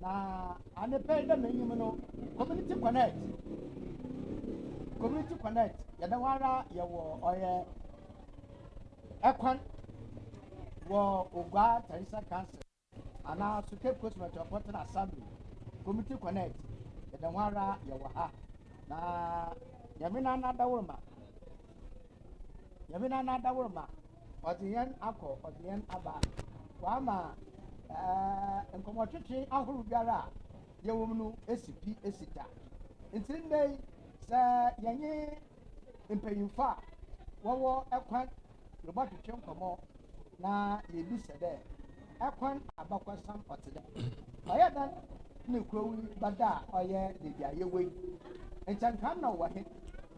na ane pɛ dɛ m'enyim no community connect community connect yɛda hɔ ara yɛwɔ ɔyɛ ɛkwan wɔ ogua tarisa council anaa so cape coast metropolitan assembly community connect yɛda hɔ ara yɛwɔ ha na nyame na anadaworo ma Nyame na n'adaworoma, ɔdze hɛn akɔ, ɔdze hɛn aba. Ɔama ɛɛɛ nkɔmɔtwetwe ahorow biara a yɛwɔ mu no esi pi, esi dza. Ntsi ndɛ yi, sɛ yɛnye mpanyimfo a wɔwɔ kwan robɔtwetwe nkɔmɔ na yeebisa dɛ, Kwan abakɔsɛm ɔtse dɛn? Ɔyɛ dɛn ne kurow yi bɛda a ɔyɛ beebi a yɛwɔ yi? Nkyɛ nka nna ɔwɔ hen?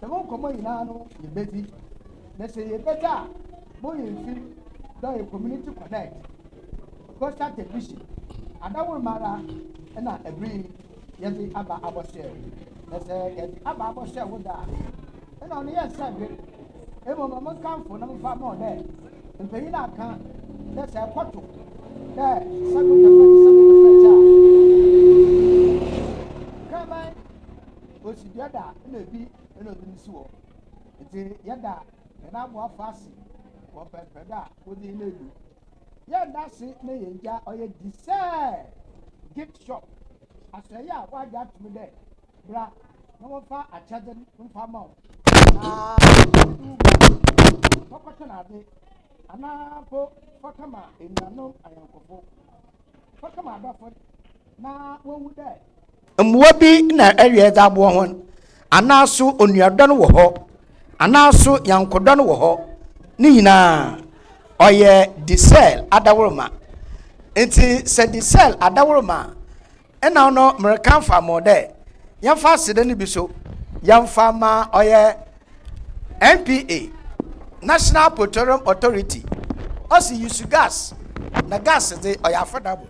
Dɛm nkɔmbɔ nyina no yebedzi, na sɛ yɛbɛgye a, monyimfir dɛ ɔyɛ Community Connect, Coastal Television, adawor mu ara na aber yi yɛdze aba abɔsoɛr. Na sɛ yɛdze aba abɔsoɛr wo do a, nna ɔno yɛ nsɛnhwɛ, mbom ma monkamfo na momfa mma hɔn dɛ mpanyin no akã dɛ sɛ ɛkɔto dɛ Sɛgo Kɛfɛtse Sɛgo Kɛfɛtse a, Kraman Osi dua da a nna bi na ɔdze ne si hɔ. Ntsi yɛda hɛn aboafo ase wɔ mpɛnpɛndo a wɔdze hɛn edu. Yɛnnda ase ma hɛn gya a ɔyɛ Desire Gift Shop, asoɛe a wɔagye ato mu dɛ bra na wɔmfa akyɛdze no mfa mma wo, anaa Ɔwodwow Bra Fa Kɔtɔn Adze, anaa mpo fa kɛma enuanom anyɛnkofo. Mbowa bi na ɛwea dze aboa hɔn anaa so onuadɔ no wɔ hɔ anaa so nyankodɔ no wɔ hɔ ne nyina ɔyɛ disɛl adaworoma ntsi sɛ disɛl adaworoma a nna ɔno mereka mfamho dɛ yɛmfa aseda no bi so yɛmfa ma ɔyɛ. NPA, National Petroleum Authority, ɔsi yusu gas na gas dze ɔyɛ affordable.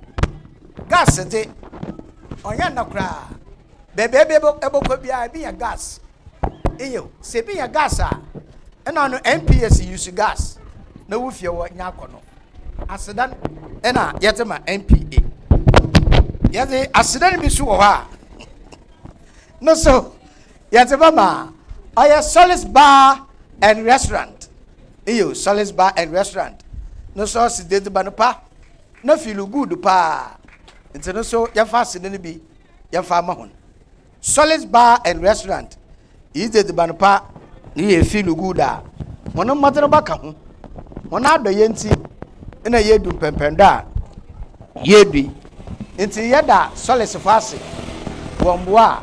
Gas dze ɔnyɛ nna koraa. Baabi a ebi ebɔkɔ biara ebi nya gas. Eyew, sɛ ebi nya gas a, nna no NPA si yusu gas na wo fie wɔ nya akɔ no. Asedan na yɛdze ma NPA. Yɛdze asedan bi so wɔ hɔ a no so Yɛdze bɛma a, ɔyɛ Sully's Bar and Restaurant. Nyew, Sully's Bar and Restaurant no so ɔse dɛ edziban pa na fiilu good paa ntsi no so yɛmfa aseda no bi yɛmfa mma hɔn. Sully's Bar and Restaurant, iyi dze edziban pa na iyi yɛ fiilu good a hɔn mbɔdzen bɔka ho. Hɔn adɔyɛ ntsi na yeedu mpɛnpɛndo a yeedu yi. Ntsi yɛda Sully's fo ase wɔ mboa a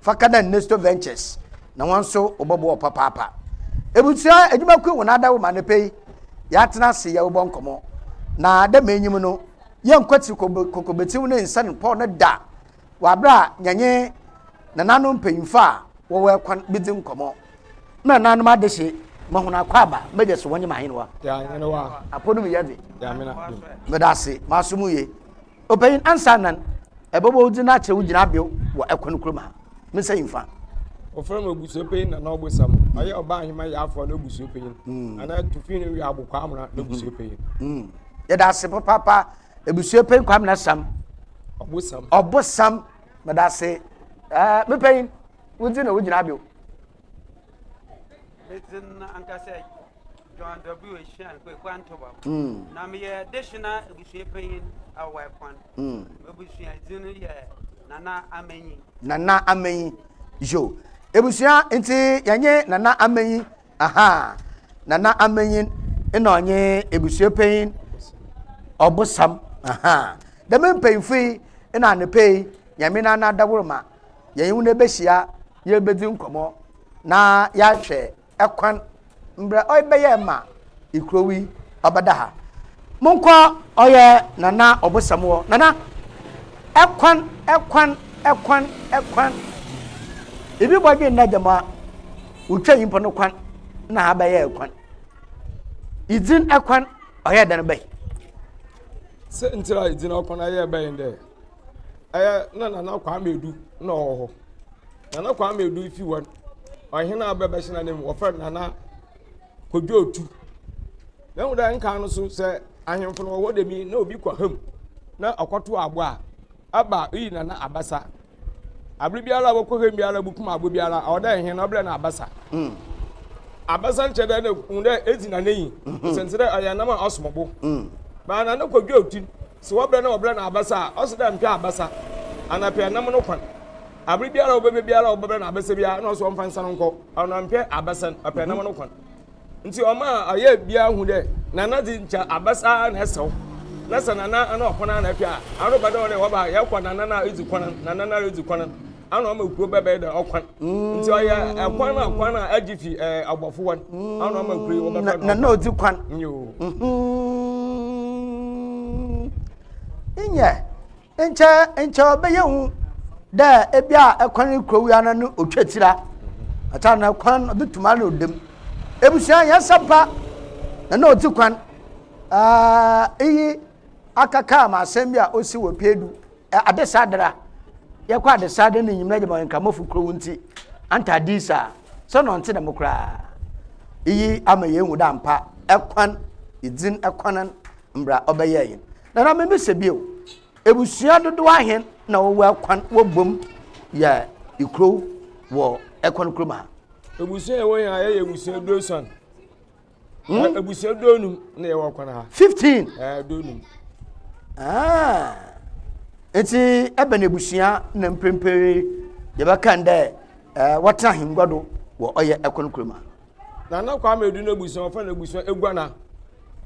Fa ka dɛ Nesto Ventures na hɔn so wɔbɔboa wo papaapa. Ebusua edwumakuw hɔn adaaw mu anapa yi, yɛatsena ase yɛrobɔ nkɔmbɔ. Na dɛ ma inyim no, yɛnnkwetsir kokobetsiw ne nsan pɔw no da wɔ aber a yɛnye nananom mpanyimfo a wɔwɔ kwan bedzi nkɔmbɔ. Mma nananom adehye, ma hɔn akwaaba, m'egya so wɔnye m'ahenwa. Yɛn ahenewa. Apɔw no mu yɛ dze. Yɛn amena dum. Meda ase, masom wo yie. Ɔpanyin ansa nan, ɛbɛbɔ wo din na akyerɛ wo gyinabea wɔ ɛkwan koro mu ha. Mensa yi mfa. Wɔfrɛ no obusuapanyin Nana Ɔbosam. Ɔyɛ Ɔba Ahima Yaafoɔ no obusuapanyin. Mm. Anaa Tufi no Wia Abokwaa Amena no obusuapanyin. Mm. mm. Yɛda ase papaapa abusuapanyin Kwame Nasam. Ɔbosam. Ɔbosam. Mɛda ase. Ɛɛ mepanyin, wo din na wo gyinabea. Medin ankasa John W. Ehyian Kweku Antobam. Mm. Na meyɛ Deshina ebusua panyin wɔ Ɛkwan. Mm. Ebusua dzin no yɛ Nana Amanyi. Nana Amanyi. Yo. Ebusua nti yɛnye Nana Amanyi. Aha. Nana Amanyi na ɔnye ebusua panyin ɔbosam. Aha. Dɛm mpanyinfo yi na anapa yi nyame na n'adaworo ma yɛn ho no ebehyia yɛrebedzi nkɔmɔ na yɛahwɛ kwan mbrɛ ɔbɛyɛ ma ikurow yi ɔbɛda ha. Monkɔ ɔyɛ Nana Ɔbosam hɔ, Nana, kwan, kwan, kwan, kwan. Ibi bɔdwen na dɛm a, wotwa nyimpa no kwan na ha bɛyɛɛ kwan. Idzin kwan ɔyɛɛ dɛn bɛn? Siantsir a idzin kwan ayɛɛ bɛn dɛ ɛyɛ na nana kwame edu na ɔwɔ hɔ nana kwame edu fi hɔ ɔhen a bɛbɛ hyɛn anim wɔfrɛ nana kodwo otu na ehu dɛ nkan no so sɛ ahemfo no wɔ hɔ dɛm yi na obi kɔ ham na ɔkɔto abo a aba iyi nana abasa abere biara a wɔkɔ ham biara bukum abo biara ɔwɔ dɛ ɛhen na ɔbrɛ na abasa hmm. abasa nkyɛn dɛ na ehu dɛ edzi nana yi hmm. sɛnsɛ dɛ ɔyɛ nam a ɔsom bo hmm. baa nana kodwo otu. Se wɔbrɛ na wɔbrɛ no abasa a, ɔse dɛ mpɛ abasa ana pɛ nam no kwan. Aber biara a ɔbɛba biara a wɔbɛbrɛ no abasa biara na ɔse ɔmfa nsa no nkɔ, ɔno mpɛ abasa no, ɔpɛ nam no kwan. Ntsi ɔma ɔyɛ biara hu dɛ Nana dze nkyɛ abasa ara na ɛsɛ wo. Na sɛ Nana ana ɔkwan ara na ɛpɛ a, ano bɛdɔ dɛ wɔba a yɛkɔ Nana no a edzi kwan no, Nana no ara edzi kwan no. ana ama kuro bɛbɛyɛ dɛ ɔkwan nti ɔyɛ ɛkwan a kwan a agye fi ɛɛ abɔfo wɔn ana ama kuro yi wɔbɛfɛ no na na ɔdzi kwan yoo nyɛ nkyɛ nkyɛ ɔbɛyɛ hu dɛ ebi a ɛkwan kuro wia na no otwa tira ata na kwan ɔbɛtum ana ɔdam ebusua yɛ sɛmpa na na ɔdzi kwan ɛɛ iyi akaka ama asɛm bi a osi wɔ pɛɛdu. adesadra yɛkɔ adesadra ne nyimna gyama nkamafo kurow nti anta adis a sɛ na ɔnte dɛm koraa iyi ama yɛahu dɛ ampa ɛkwan dzin ɛkwanan mbra ɔbɛyɛɛ yɛn na na mebisa bio ebusua dodow ahen na wɔwɔ ɛkwan wɔbom yɛ ikurow wɔ ɛkwan kurom ha ebusua ɛwɔ yɛn ha yɛyɛ ebusua duosuan Hmm? abusua donum na yɛwɔ kwan ha. fifteen. ɛɛ eh, donum. Ah. nti ɛbɛn na abusua na mprempren yɛbɛkan dɛ ɛɛ eh, wɔtena ahengua do wɔ ɔyɛ ɛkwan kuro mu. nana kwame edu na abusua wɔfɛ na abusua eguana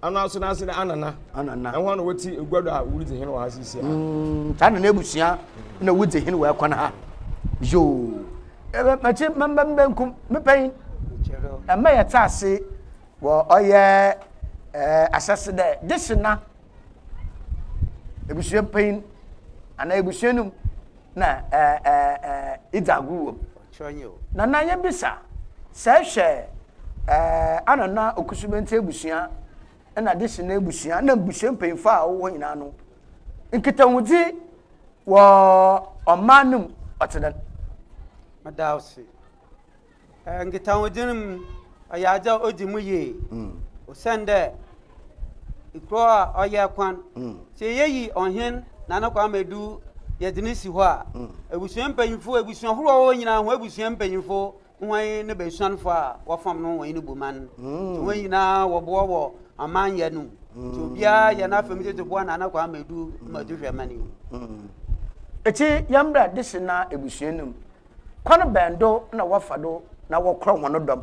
anaso na ase na anana. anana ɛhɔn na wɔte egua do a wɔredzi hen wɔ ha sisi a. Hmm, saa nana abusua na wɔdzi hen wɔ ɛkwan ha yoo. Ɛbɛ makyi mbɛmbɛm bɛnkum me panyin. Ɛmɛ yɛ tse ase wɔ ɔyɛ ɛɛ ahyɛse dɛ gyese na ebusua panyin anaa ebusua no mu na ɛɛ ɛɛ ɛɛ edzi agor wɔ mu. Na na yebisa sɛ ehwɛ ɛɛ anana okusumɛntsi ebusua na de si n'abusua na abusua mpanyinfo a wɔwɔ hɔ nyinaa no nkitahodzi wɔ ɔman no mu ɔtse dɛn. meda wo se nkitahodzi no mu ɔyɛ adze a odzi mu yie mm. osiandɛ ekurow a ɔyɛ kwan mm. sɛ yɛyi ɔhen na ne kwan ma edu yɛdze ne si hɔ a mm. abusua mpanyinfo abusua horow a wɔwɔ nyinaa ho abusua mpanyinfo Hwan ne bɛsuanfoɔ a wɔfam no wɔn ne Boman? Nti wɔn nyinaa wɔboɔ wɔ amanyɛ no mu. Nti obiara yɛ n'afam tete boa Nana Kwame du ma tu hwɛ mani. Eti yɛmbra dese na ebusua no mu, kwan bɛn do na wɔfa do na wɔkorɔ hɔn dɔm,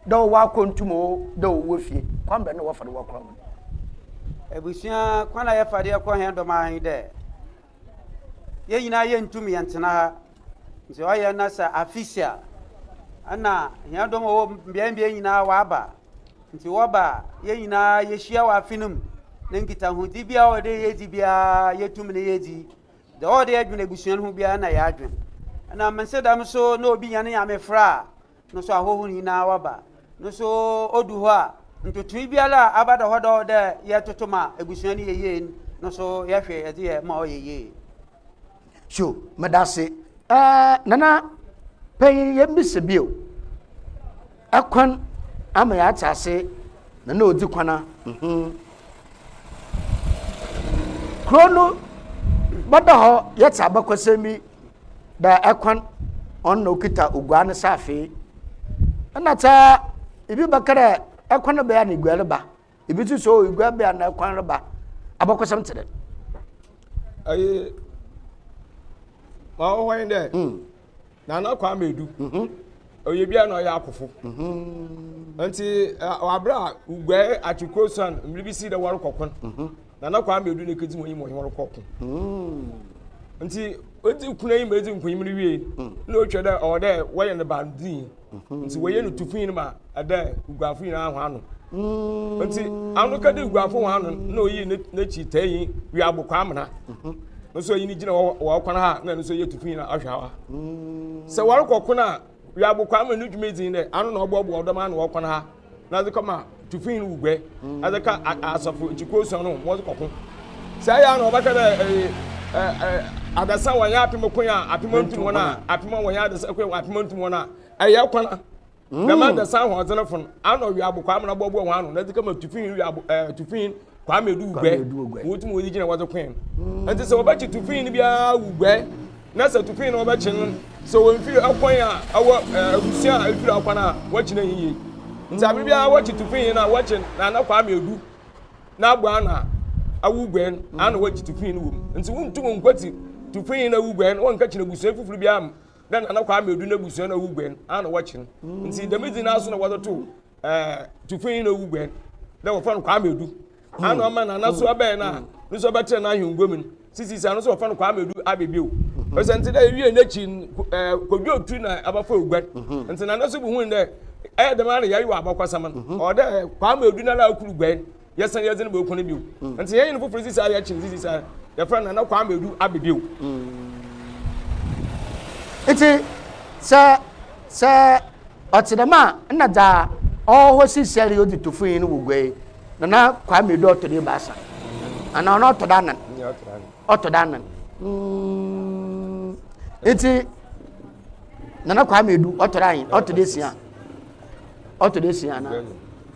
dɛ ɔwɔ akɔntum o, dɛ ɔwɔ fie, kwan bɛn na wɔfa do wɔkorɔ hɔn? Ebusua, kwan a yɛfa do yɛkorɔ hɛn dɔm ara nye dɛ. yɛn nyinaa yɛntum yɛntena ha nti ɔyɛ na sɛ afisi a ɛna hia dɔm ɔwɔ mbeae mbeae nyinaa wɔaba nti wɔba a yɛn nyinaa yɛhyia wɔ afe no mu na nkitahodi biara a ɔde yɛdi biara yɛtum ne yɛdi deɛ ɔde adwene abusua no ho biara na yɛadwene ɛna mese dɛm so na obi nya ne nyame fra a no so ahɔho no nyinaa wɔba no so odu hɔ a ntotoe biara a aba dɔ hɔ dɔ dɛ yɛtoto ma abusua no yɛ yie no so yɛhwɛ yɛdze yɛ ma ɔyɛ yie so medase ɛɛ nana panyin yɛmmisa bio ɛkwan ama yɛate ase nana odzi kwana mhm kuro no bɛda hɔ yɛte abakɔsɛm bi dɛ kwan ɔno na okita oguaa ne saafee ɛna sɛ ebi bɛka dɛ ɛkwan no bɛyɛ na egua reba ebi nso sɛ o egua bɛyɛ na ɛkwan reba abakɔsɛm te dɛ. ɛyi ma ɔwɔ yi dɛ hmm. nana kwan bɛ du mhm. ɔyɛ bi a na ɔyɛ akofo mhm. nti wabere a guae akyekuro san mmiri bi si dɛ wɔrekɔ kwan. Mhm. Nana Kwame Odu ne kedzi hɔn mu ɔnye hɔn kɔ ko. Ntsi odzi kuna yi ma edzi nkonyim no wie na otwa dɛ ɔwɔ dɛ wɔyɛ no baanodzinyi. Ntsi woyie no tu fi no ma dɛ Uguafo nyina hɔn ano. Ntsi anokã dɛ Uguafo hɔn ano no na oyii n'ekyir taanyi Wiabo Kwamena. No so ɔnye no gyina hɔ wɔ ɔkwan ha na no so ɔyɛ tu fi na ɔhwɛ ha. Sɛ wɔrokɔ ko no a Wiabo Kwamena no dwumadzi nye dɛ ano na ɔboaboa ɔdɔm ano wɔ ɔkwan ha. na ɔdze kɔma tufin no wuguɛ dze ka asɔfo nkyekuw esuon no ho ma wɔdze kɔko. Sɛ ɔyɛ a na wɔbɛka dɛ adasa wɔnnyɛ apem ko a apem nntum hɔn a, apem a wɔnnyɛ adasa ko a apem nntum hɔn a, ɛyɛ kwana. Dɛm adasa ahoɔdzenfo no, ana ɔwe abokwaa amena bɔboa hɔn ano na edze kɛma tufin wi abo ɛɛ tufin kwame du guɛ wɔn ti mu wɔn gyina wɔdze kɔn nti sɛ wɔbɛkye tufin no biara wu guɛ na sɛ tufin no wɔbɛkye no sɛ wɔn mfiri ɛkɔn a ɛwɔ ɛɛ abusua a efiri akɔn a wɔkye no yiye nti abiri biara wɔkye tufin yi na wɔkye na ana kwame du na abɔ ano a awu guɛ no ana wɔkye tufin no wɔ mu nti wɔn ntum nkwati tufin yi na awu guɛ no wɔn nkɛkye na abusua foforo biara mu na nana kwame du na abusua na awu guɛ no ana wɔkye no nti dɛm edzi n'aso na wɔde to. ɛɛ tufunyi na owu gbɛn dɛ wɔfrɛ no kwame edu hmm. ana ɔma na anaso abɛyɛ na hmm. ne nso ɔbɛtena n'ahengua mu no sisi sɛ ano nso wɔfrɛ no kwame edu abɛbi o hmm. ɛsɛ nti dɛ ewie n'akyi ɛɛ kodwo otu na abɛfo oguan nti na anaso bi hu dɛ ɛyɛ dɛm ara na yɛayɛ wɔ abakɔsɛm no ɔwɔ dɛ kwame edu na na akuru guan. yɛsan yɛdze no bɔkɔ no bio mm. nti yɛyɛ no foforɔ sisi a yɛkye sisi saa yɛfrɛ nana kwame edu abedeo. Mm. nti sɛ sɛ ɔte dɛm a nna dza ɔwɔ sisi a yɛ ɔdze to fun yi no wɔ gua yi nana kwame edu ɔtɔ do ebaasa ana ɔno ɔtɔ do anan ɔtɔ do anan mm. nti nana kwame edu ɔtɔ do anyi ɔtɔ do esia ɔtɔ do esia ana.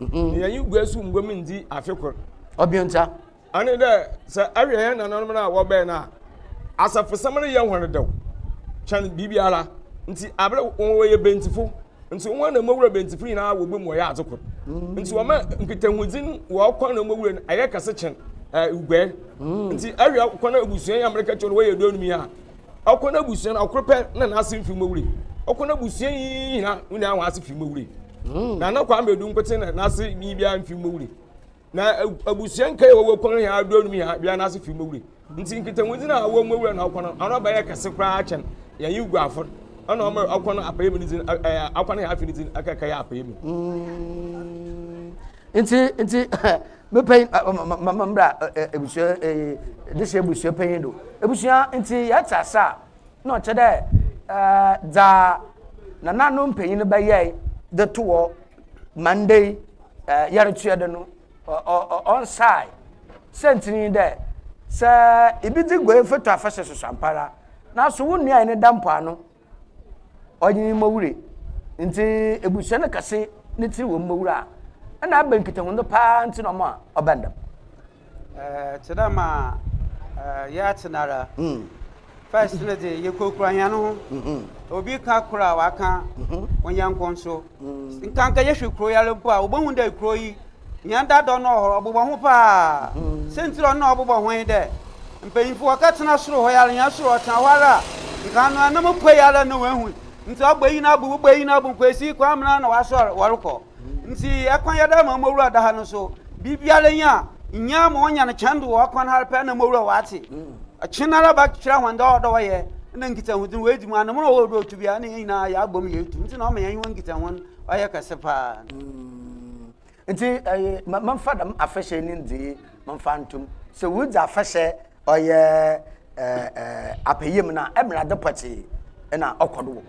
Mhm. na yɛnye gua so mbom ndzi afe kor. Ɔbeonta. Ɔne dɛ, sɛ ɛhwɛ hɛn nananom no a wɔbɛn no a, asafosɛm no yɛ hɔn dɛw kyɛn biribiara. Ntsi aber wɔyɛ Bentifo, ntsi hɔn na mbowura Bentifo nyina wɔbɔ mu wɔyɛ adze kor. Mm. Ntsi wɔma nkitahodzi no wɔ ɔkwan na mbowura no ayɛ kɛse kyɛn ɛɛ guɛ. Mm. Ntsi ɛhwɛ kwan a ebusua yi a mereka kyerɛ no wɔyɛ eduonum yi a, Ɔkɔ n'abusua no ɔkoro pɛ na n'ase mfiri mu awure. Ɔkɔ n'abusua yi nyina wo nyinaa wɔn ase firi mu awure. Hmm. Na na Kwame Edu nkote na n'ase ni biara mfiri mu awure. Na abusua nka yɛ wɔwɔ kɔn yɛ aduro anum yɛ biara n'ase firi mu awure. Nti nkitahodzi na awɔ mu awura na ɔkɔ no ano abɛyɛ kɛse koraa akyɛn yɛn yi gu afɔ ɛna ɔmo ɔkɔ no apɛyɛ mu ne dzi ɛɛ akɔ no yɛ afi ne dzi ɛkɛkɛ yɛ apɛyɛ mu. Hmm. Nti nti. Me panyin ma ma mbra ebusua dehye ebusua panyin do. Ebusua nti yɛtse ase a na ɔkyɛ dɛ dza nananom mpanyin bɛyɛe dze to hɔ ma ndɛ yi yɛretoa do no ɔnnsae. Siantsir nye dɛ sɛ ibi dze guae foto afahyɛ soso ampara naaso wo nua enye no da mpoano ɔnye ne mbɔwura yi ndze ebusua no kɛse ne tsir wɔ mbɔwura a, nna aber nkitahodzi paa ntsi na ɔma ɔbɛn dɛm. Tse dɛ ma yɛatse no ara, first no dze yekurakura hɛnho, obi ka kor a ɔakã onyɛnko so. Nka nka yɛhwɛ kuro yi ara mpo a wobɛhu dɛ kuro yi hia dadɔ no ɔhɔ ɔbobɔ ho paa sɛntiri ɔno na ɔbobɔ ho yi dɛ mpanyimfo wɔka tena soro hɔ yi ara hia soro ɔtena hɔ ara a nka ano anam kɔ yi ara na wɔahu nti ɔbɔ yi na abu wobɔ yi na abu nkwasi kwan mena na wɔasɔre wɔrekɔ nti ɛkwan yɛda ma ɔmɔwura da ha no so Biribiara nyi a, nyia ma ɔnya no kyɛn do wɔ ɔkwan har pɛr na mowura wɔ adze. Ɔkyenara bɛkyerɛ hɔn dɛ ɔwɔ dɛ wɔyɛ na nkitsahodzi no woedzi mu a, no mu na ɔwɔ dɛ otu bi a, nna hɛn nyina yɛabɔ mu yeetu. Ntsi na ɔma yɛnye hɔn nkitsaho no ɔyɛ kɛse paa no. Ntsi ɛyɛ ma memfa dɛm afahyɛ yi ne ndzeyɛɛ memfa nto mu. Sɛ woridzi afahyɛ ɔyɛ apɛ yamu no a, mbrɛ adze pɔtsee na ɔkɔ do wɔ.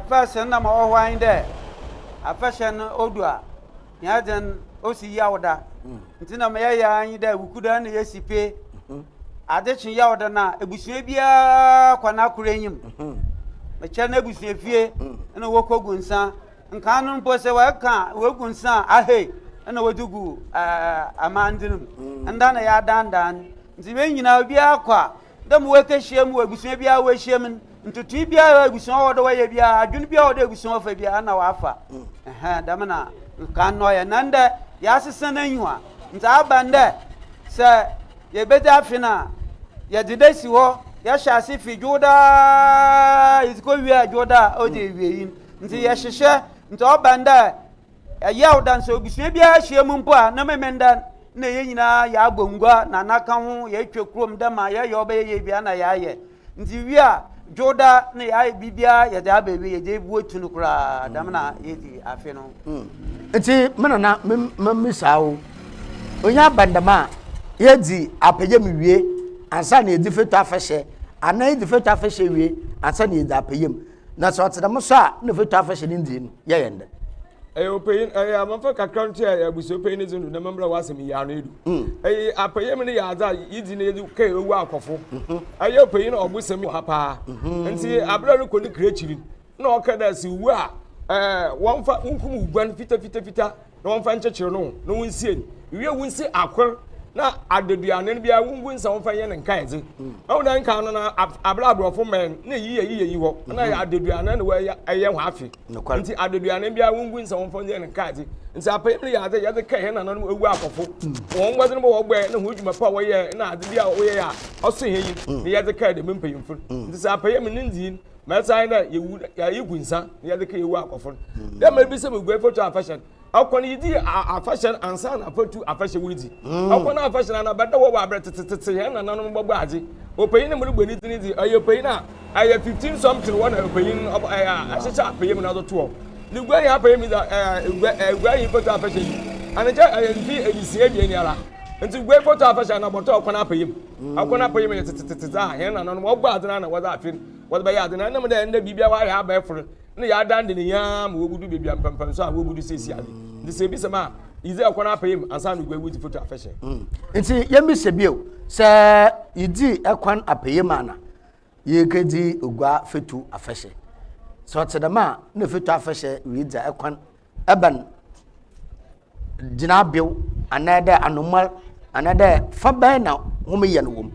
Pɛs nna ma ɔwɔ hɔ ara nye dɛ afahyɛ no odu a, hɛn adze no osi Yawda. Ntsi nna ma yɛyɛ ara nye dɛ Wukuda na yesi pe. Adze kye Yawda no a, ebusua biara kɔ n'akor enyim. Mekyɛr n'ebusuafie na wokogu nsa. Nkan no mpo sɛ wɔka a, wogu nsa a, ahei na wɔdze gu amandze no mu. Nda na yɛadandan. Ntsi hɛn nyina obiara kɔ a, Dɛ mowɔ ekehyiam mu wɔ ebusua biara a woehyiam no, ntotoe biara a ebusua wɔ dɛ wɔyɛ biara, adwen biara wɔ dɛ ebusua wɔfa biara, nna wɔafa. Ɛhɛn, dɛm na nkan na ɔyɛ. Na ndɛ, yɛasesã n'enyiwa. Ntsi aba no dɛ sɛ yebedzi afe no a, yɛdze da si hɔ, yɛhyɛ ase fi Dwoda a yedzi kowie a Dwoda a ɔdzi ewiei no. Ntsi yɛhyehyɛ, ntsi ɔba no dɛ Ɛyɛ a woda sɛ obusua biara ahyia mu mpo a na memenda na yɛn nyinaa yɛabɔ ngua na anaka ho yɛatwa kurom dɛ ma yɛyɛ ɔbɛyɛ yɛ bia na yɛayɛ nti wie a dwoda na yɛayɛ biribiara yɛde aba awie yɛgye buo tu no koraa dɛm na yɛdi afe no hmm. nti me nana memmisa wo onye abandam a yɛdzi apɛyɛ mu wie ansa na yɛdzi fetu afɛhyɛ anaa yɛdzi fetu afɛhyɛ wie ansa na yɛdzi apɛyɛ mu na sɛ ɔte dɛm so a na fatu afahyɛ ne ndzi no yɛ yɛn dɛ ɛyɛ ɔpanyin ɛyɛ amamfa kakra nti a abusua panyin ne dzi no dɛm mmerɛ w'asɛm yi ano edu ɛyɛ apɛyɛ mu no yɛ adze a yɛdzi na yɛdze kɛɛ owu akɔfo ɛyɛ ɔpanyin na ɔbosɛm wɔ ha paa nti aberɛ rekɔ ne kra akyiri na ɔka dɛ sɛ owu a wɔmfa wonkum oguan fitafitafita na wɔmfa nkyekyere no na wonsie no wiɛ wonsi akor na adaduane no biara wongu nsa wɔmfa nyɛ no nkaedze ɛho dɛ nka no na abere aborɔfo mmɛn na eyi yɛ yiyɛ yi hɔ na yɛ adaduane na wɔyɛ ɛyɛ ho afe nti adaduane biara wongu nsa wɔmfa nyɛ no nkaedze nti apɛyɛ no yɛ adze yɛdze kɛɛ yɛn nananom ewu akɔfo wɔn mmɔdze no bɔ wɔbɔɛ na ho adwuma pa a wɔyɛ na adze bi a wɔyɛ a ɔso hɛn yi na yɛdze kɛɛ dɛm mpanyimfo nti sɛ apɛyɛ mu ne ndzii mɛ san dɛ yewu yɛayɛ gu nsa na yɛde ka yewu akɔfo no hmm. dɛ mɛ bi sɛ meguai foto afahyɛ no ɔkɔ no yɛdi afahyɛ no ansa na afatu afahyɛ wo di hmm. ɔkɔ no afahyɛ no anabɛda wɔ wɔ aberɛ tetetete yɛn nananom bɔbɔ adze ɔpanyin no mu no bɔ ne din di ɔyɛ ɔpanyin a ɛyɛ fifteen something wɔ na ɔpanyin no ahyehyɛ apɛyɛ mu na ɔde toɔ ne gua yi apɛyɛ mu dɛ gua yi foto afahyɛ yi anakyɛ ɛyɛ mfi ɛdi si ebien ni ara nti gua yi foto afahyɛ anabɔtɔ ɔkɔ no apɛyɛ mu Akɔ na pɛyɛ mu yɛ tetetete dza hɛn nananom wɔbɔ adze no ara na wɔdze afe no wɔdze bɛyɛ adze no ara. Nna mu dɛ ndɛ biribiara wɔayɛ abɛfor na yɛadan dze ne nyinaa ma wobudu beebi a mpɛnpɛnso a wobudu siesie adze. Ntsi sɛ ibisa me a, iyi dze ɔkɔ n'apɛyɛ mu ansa na oguai wodzi foto afɛhyɛ. Ntsi yɛmbisa bio, sɛ yedzi kwan apɛyɛ mu ana yekedzi oguaa foto afɛhyɛ? Sɛ ɔtse dɛm a, nna foto afɛhyɛ ridzi kwan ebɛn gyinabew anaa dɛ anomaa anaa dɛ fa bɛn na hom yɛ no wɔ mu.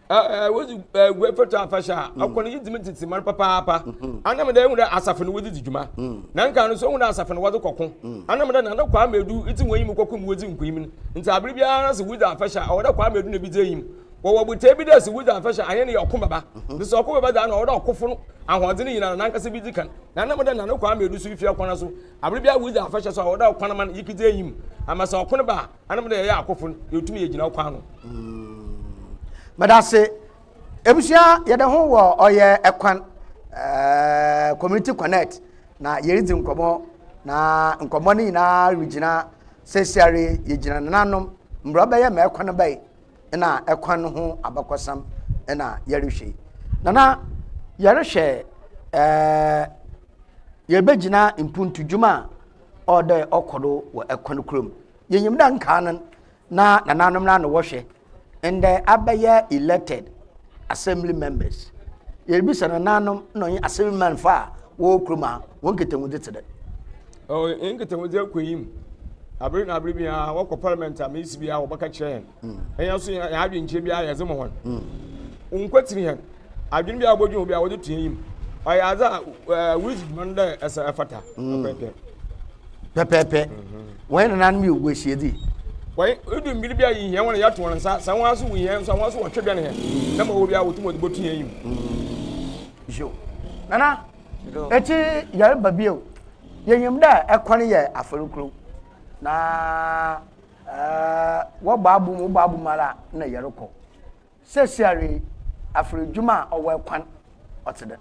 Ɛɛ wodzi Aguae Fatu Afahyɛ a mm. ɔkɔ no yɛdzi mu tsetse mar papaapa mm-hmm. anam dɛ ehu dɛ asafo no wɔdze dzi dwuma mm. na nka no so ehu dɛ asafo no wɔdze kɔko anam dɛ nana kwame edu edzi wɔn enyim kɔko mu wɔdzi nkunyim no nti aber biara sɛ wodzi afahyɛ a ɔwɔ dɛ kwame edu na ebi dzi enyim wɔwɔ botae bi dɛ sɛ wodzi afahyɛ a, hɛn yɛ ɔko bɛba. Mhm. Ntsi sɛ ɔko bɛba dze a, nna ɔwɔ dɛ ɔkofo no ahoɔdzen nyina no nankasa bi dzi kan. Na nna meda nna no kwaa meedu so efi akwan so. Aber biara wodzi afahyɛ so a, ɔwɔ dɛ ɔkwan man yekidzi enyim. Ama sɛ ɔko no ba a, ana meda yɛyɛ akofo no, yetum yegyina ɔkwan ano. Mm. Meda ase. Ebusua yɛde ho wɔ ɔyɛ ɛkwan eh, community connect na yɛredzi nkɔmmɔ na nkɔmmɔ no nyinaa regyina sɛsiare yɛgyina nananom mbrɛ ɔbɛyɛ ma ɛkwan bɛyɛ na ɛkwan no ho abakɔsɛm na yɛrehwɛ yi. Na na yɛrehwɛ ɛɛ eh, yɛbɛgyina mpuntu dwuma a ɔdɛ ɔkɔ do wɔ ɛkwan kurom. Yɛnyim dɛ nkaa no na nananom no ano wɔhwɛ ndɛ abɛyɛ elected Assembly members. Yɛrebisa nananom na ɔnye assemblyman fa a wɔwɔ kurom ha, wɔn nkitahudze tse dɛn? Ɔwɔ hɛn nkitahudze akɔnyim. Aber na aber biara wɔkɔ parliament a mesi biara wɔbɛka kyerɛ hɛn. Mm. Hɛn so hɛn adwenkyerɛ biara yɛdze ma hɔn. Mm. Wɔnkwetsir hɛn. Adwen biara wɔbɔdwen ho biara wɔdze to enyim. Ɔyɛ adze a uh, wodzi dwuma no dɛ ɛsɛ ɛfata. Mm. Pɛpɛɛpɛ. Pɛpɛɛpɛ. Mm -hmm. Wɔn nananom yɛ ogu ahyiadzi. Wɔn edu mbir bi a yehia hɔn a yɛato hɔn nsa, sɛ hɔn so wohia hɛn so a, hɔn so wɔtwe bɛn hɛn, na ma ɔwɔ bi a wotum wɔdze botu hɛn yamu. Yo. Nana, etse yarba bi o, yenyim dɛ kwan yɛ afɛr kor, na wɔbɔ abom, wobɔ abom ara a nna yɛrokɔ. Seseiara yi, afer edwuma a ɔwɔ kwan ɔtse dɛn?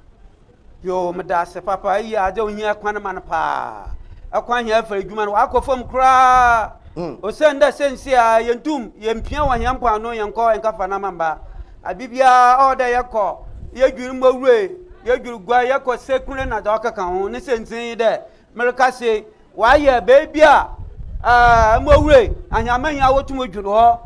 Yoo, meda ase papa. Iyi adze a ohia kwan ma no paa. Kwan hia afer edwuma no, ɔakɔ famu koraa. Osiandɛ seseiara yenntum yemmpia wɔ hɛn mpoano yɛnnkɔ nnkã fa nama mba. Aber biara ɔwɔ dɛ yɛkɔ, yedwir mbowuroe, yedwir guar, yɛkɔ sekun na dza ɔkeka ho. Ne siantsir nye dɛ, Mereka sei, wayɛ baabi a mmɔwura ahiamahia wotum dwene hɔ.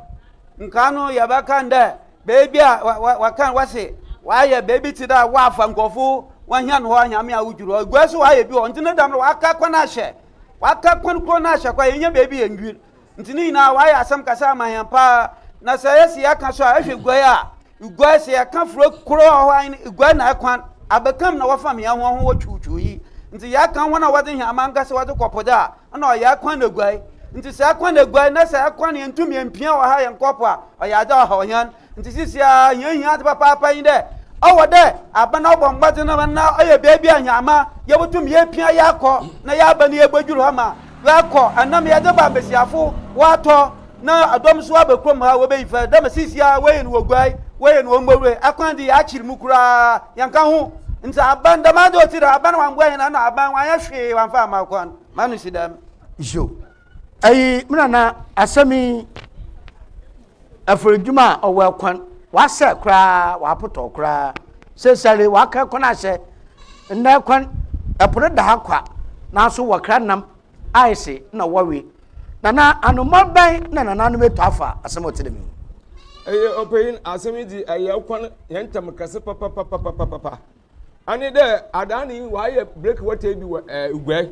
Nka no yɛbɛka no dɛ baabi a wɔka wɔse wayɛ baabi te dɛ wɔafa nkurɔfo wɔahia no hɔ ahiamahia wodwiri hɔ. Egua so wayɛ bi hɔ. Nti ne dɛm no waka kwan ahyɛ. Waka kwan koro no ahyɛ kɔ yɛnyɛ baabi yɛ nwiri. Nti ne nyinaa w'ayɛ asɛm kasa ama hɛn paa na sɛ yɛse yɛka so a ehwɛ guai a guai sɛ yɛka fura koro a ɔhɔ ahen guai na ɛkwan abɛkam na wɔfam hɛn ho ɔho wɔ twuutwuu yi nti yɛka hɔn a wɔdze hɛn ama nkasa wɔdze kɔ po do a nna ɔyɛ ɛkwan na guai nti sɛ ɛkwan na guai na sɛ ɛkwan yɛntum yɛmpia wɔ ha yɛnkɔ po a ɔyɛ adze a ɔhaw hɛn Ntsi seseiara hɛn ohia adze papaapa nye dɛ ɔwɔ dɛ aban no bɔ mbɔdzen ma nna ɔyɛ beebi a hɛnmba yebotum yeepia yaakɔ na yaaba na yebodwuur hɔ ma wɔakɔ anam yɛdze ba mbasiafo wɔatɔ na dɔm so aba kurom ha wobeyi fɛr dɛ ma seseiara wɔyɛ no wɔ Guai wɔyɛ no wɔ Mborue akwan dze yɛakyer mu koraa yɛnnka ho ntsi aban dɛm adze a otsi dɛm aban wɔammboa hɛn ano aban wɔannyɛ hwee wɔammfa amma kwan ma no si dɛm. Nhyɛ o. ayi me nana asɛm yi afiridwuma a ɔwɔ kwan wasɛ koraa wapotɔ koraa sesare waka kwan ahyɛ nnɛ kwan ɛpo no da ha kwa nanso wɔkra nam ayese na wɔwe nana anoma bɛn na nananom ɛtɔ afa asɛm ɔte dɛm ɛyɛ ɔpanyin asɛm yi di ɛyɛ kwan yɛn ntam kɛse papapapapapa Ɛne dɛ adaa no yi wɔayɛ breki wɔtɛɛ bi wɔ ɛɛ Uguay.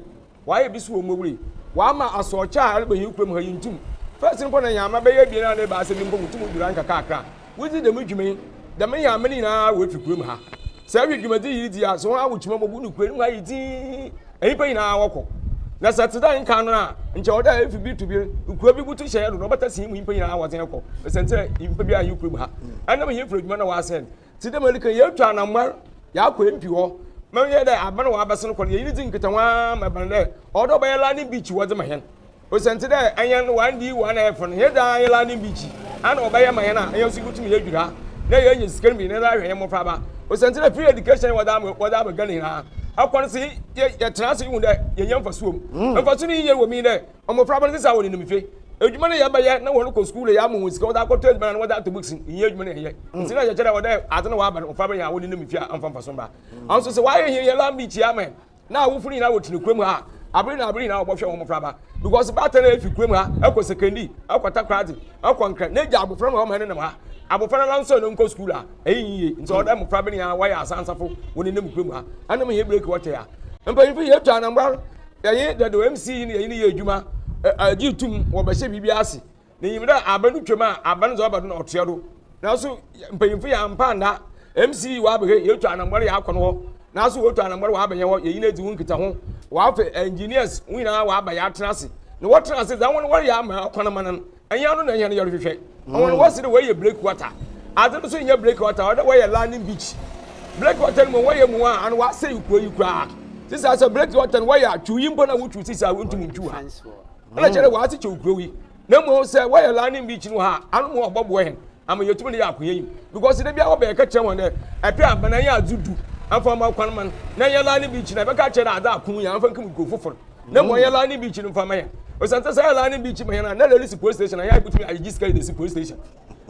Wɔayɛ bi so wɔ Mowbray. Wɔama asɔɔkyɛ a ɛreba hɛn kurom ha yi ntum. First no mpo na hɛmba bɛyɛ ebien anaa ebiasa bi mpo mutum dur ha nkakrakra. Wodzi dɛm dwuma yi, dɛm hɛmba no nyina woefi kurom ha. Sɛ ehwɛ dwumadzi yi ridzi a, sɛ hɔn awokyima mu ɔbodu kurow no mu ayɛ dzinn, nyimpa nyina wɔkɔ. Na sɛ tse dɛ nkan no a, nkyɛ ɔwɔ dɛ efi bir to bir, kurow bi botu hyɛ hɛn do na ɔbɛtase hɛn mu nyimpa nyina wɔdze hɛn kɔ. Osiandɛ nyimpa biara nnyi kurom ha. Ɛnam hɛn mfiradwuma na wɔasɛɛ no. Tse dɛ ma yɛreka yi, yeetu anamɔn, yaakɔ mp hɔ, ma ɔnyɛ dɛ aban a ɔabɛsen kɔ no, yɛnye no dzi nkitaho ara ma ebɛn dɛ ɔwɔ dɛ ɔbɛyɛ landing beach wɔdze ma hɛn. Osiandɛ dɛ hɛn one day one earth no, hɛn dze ayɛ landing beach yi, ana ɔbɛyɛ ma hɛn a, hɛn so yebotum yeedwir ha na yeenya sika no bi na yɛdze ahwɛ hɛn mbofraba. Osiandɛ dɛ free education a wɔdze ama Ghana nyina, akwan se yɛtsena ase yehu dɛ yenya mfaso wɔ mu. Mfaso no yie wɔ mu nye dɛ, Mmofra bɛn sesa wɔ ne nimfe? Edwuma ne yɛ bɛyɛ na wɔn kɔ sukuu na yɛ amu wɔn sika wɔdze akɔ tɔ edziban ana wɔdze ato bokisi nnyɛ edwuma ne yɛ. Ntsi na yɛkyerɛ wɔ dɛ adze na wɔaba no mmofra bɛyɛ a wɔn ne nimfe a ɔmmfa mfaso mbra. Naaso sɛ wɔayɛ hɛn hɛn lambi kyia ma hɛn na awofo no nyina wɔtsena kurom ha a aber nyina aber nyina wɔbɔhwɛ wɔn mmofra ba because baatan a efi kurom ha kɔ sekandi kɔ takoradi kɔ nkran na egya abofra no hɔ ma hɛn nenam ha abofra nara nso no nkɔ sukuu a ɛyɛ nyie nti ɔdɛ mmofra bɛn yɛ a wɔayɛ asansafo wɔn ne nam kurom ha anam hɛn breki wɔtɛ a mpanyinfo yɛ tu anambra no. Yɛnye dɛ dɛ OMC yi na yɛnye no yɛ edwuma gye tum wɔ bɛhyɛ biribiara ase. Na nyim dɛ aber no twam a, aber no dze ɔba do na ɔtoa do. Naaso mpanyimfo yɛammpa annda OMC yi wɔabɛhwɛ, yeetu anambɔr yɛakɔ no hɔ, naaso woetu anambɔr wɔaba hɛn hɔ, yɛnye no edzi ho nkitaho. Wɔafa engineers, hɔn nyina wɔaba yɛatsena ase. Na wɔtsena ase dza hɔn wɔreyɛ ama kwan ama no no, ɛnyɛ ano na ɛnyɛ no yɛrehwehwɛ ɔmo no wɔsi de wɔyɛ break water ade no so nyɛ break water ɔde wɔyɛ landing beach break water no mu wɔyɛ mu a ano wɔasɛ yi kuro yi koraa sisan sɛ break water no wɔyɛ atwiw yi mpo na wotwiw sisan wontumi ntwiw ha ɛna kyerɛ dɛ wɔase kyɛw kuro yi na mmom sɛ wɔyɛ landing beach no ha ano mu ɔbɔboa hɛn ama yɛtumi de yɛ akoyɛ yi because de bia wɔbɛyɛ ka kyerɛ wɔn dɛ ɛpɛ abana yɛ adze du afa ma kwan man na yɛ landing beach na ɛbɛka kyerɛ dɛ adze ako yɛ afa nkum kuro fofor na mmɔ yɛn lane beach no mfa ma yɛn osiane sɛ sɛ yɛ lane beach ma yɛn a na lɛle si police station a yɛn abotumi ayegye sika yi de si police station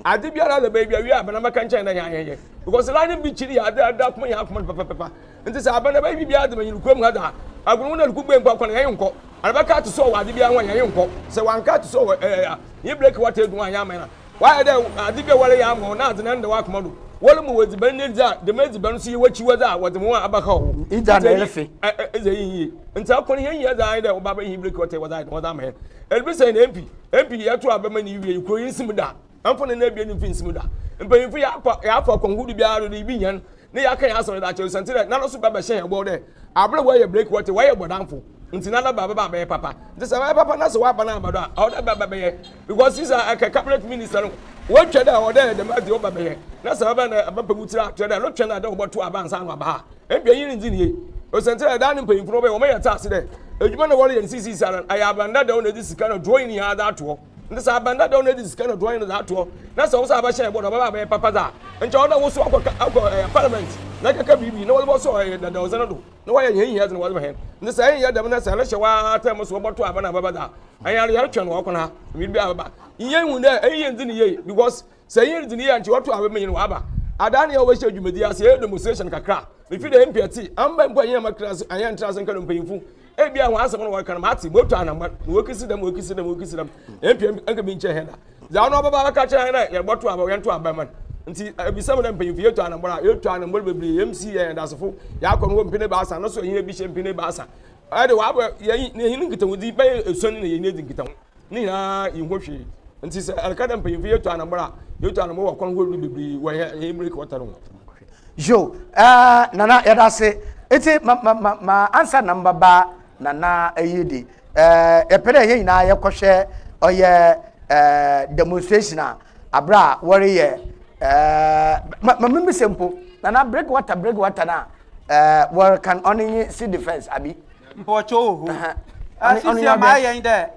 ade biara lɛ baabi awie abana mɛka nkyɛn na yɛn ayɛyɛ because lane beach no yɛ ade ade akoma yɛn akoma no pɛpɛpɛpa nti sɛ abana bɛyɛ biribiara de ma yɛn kurom ha daa agono na luku gbɛ nkɔ akɔ na yɛn nkɔ anabɛka ato so wɔ ade biara ho a yɛn nkɔ sɛ wanka ato so wɔ ɛɛ yɛ blake wata edu a yɛn ama yɛn Wɔayɛ dɛ adze bi a wɔreyɛ ama wo na adze no nnda w'akoma do. Wɔrema wo edziban nye ndzɛ a, dɛm edziban so yɛ w'ekyiwadze a wɔdze hɔn abɛhaw wo. Egya na erefe. Edze eyi nnyi. Ntsɛ kor hɛn nyina dze ayɛ dɛ ɔbaa bɛyɛ hɛn birikie ɔtse wɔdze ayɛ dɛn wɔdze ama hɛn. Ebi sɛn na MP, MP yɛ to a bɛma no iwie yi kor yi nnsi mu da. Mfona no ebien no mfi nnsi mu da. Mpanyimfo yɛafa, yɛafa kwan horow biara do dɛ ibi hɛn Ne yɛaka yɛn asɔre daakye osian ntsi dɛ nana so bɛbɛhyɛ hɛn bɔw dɛ aber a wɔayɛ break wɔtse wɔyɛ bɔdamfo ntsi nana ba bɛba abɛyɛ papa ntsi sɛ ɔyɛ papa na sɛ ɔaba na ɔaba do a ɔwɔ dɛ bɛba bɛyɛ because sisi a ɛkɛ cabinet minister no wɔatwa dɛ ɔwɔ dɛ yɛ dɛm adze ɔba bɛyɛ na sɛ ɔba na aba pɛgu tsir a kyerɛ dɛ no twɛn na dɛ ɔbɔto aba ansa na ɔaba ha mpanyin nnzi ne yie osian ntsi dɛ daa ne mpanyinfo no wɔbɛyɛ wɔn yɛ tse ase dɛ edwuma na wɔreyɛ no sisisi ara no ayɛ aban dadaw na edze sika na duro nyinaa dze ato hɔ. na sɛ aban dadaw no adi sika na duan no dze ato hɔ na sɛ wo nsa abɛhyɛ bɔ na ɔbɛba abɛyɛ papa dze a nkyɛ ɔwɔ dɛ wo so akɔ akɔ ɛyɛ parliament na akɛka biribi na wɔdze bɔsɔ ɛyɛ dadawdze no do na wɔayɛ hɛn hia dze na wɔdze ma hɛn na sɛ ɛnnyɛ dɛm na sɛ ɛrehyɛ hɔ ara term so wɔbɔto aba na abɛba dze a ɛyɛ ara yɛretwɛn wɔ ɔkwan ha mber bi abɛba nyɛnhu dɛ ɛnyɛ ndze ne yie because sɛ yɛn dzi ne yɛn nti wɔto ahwɛ menyin waba adaa ne yɛ wɔhyɛ dwumadi ase yɛ demonstration kakra mefi dɛ mpɛ ti amba mpo ɛnyɛ ma kra ayɛ ntra ase nka no mpanyinfo ebi a wɔn asɛm no wɔka no mate moto anamba na wɔkisi dɛm wɔkisi dɛm wɔkisi dɛm mpɛ nka bi nkyɛ hɛn da dza ɔno ɔbɛba bɛka kyerɛ hɛn dɛ yɛbɔto aba yɛnto aba man nti ebisa mu dɛ mpanyinfo yɛto anambra yɛto anambra bebree yɛm si yɛn dasefo yɛakɔ no wɔ mpene baasa no so ɛnyɛ bi hyɛ mpene baasa ɛde wɔabɔ yɛn yɛn nkitahodi bɛyɛ esuani na yɛn adi nkitaho Ne nyinaa yi ho hwee. Nti sɛ ɛka dɛ mpanyimfo yi etu anambɔ a, yetu anambɔ wɔ kwan horow do beberee wɔ hɛn mber kɔɔta no ho. Yo, ɛɛ, Nana, yɛda ase. Etse, ma, ma, ma, ma ansa na mebɛba Nana eyi de, ɛɛ, yɛpɛ dɛ hɛn nyinaa yɛkɔhwɛ ɔyɛ, ɛɛ, demonstration a, aber a wɔreyɛ, ɛɛ, ma, ma mimbisa mpo, Nana, breakwater, breakwater no a, ɛɛ, wɔrekan, ɔno nye civil defence, abi? Mpɔkyɛw wɔ hɔ. Asisi a maa yɛn dɛ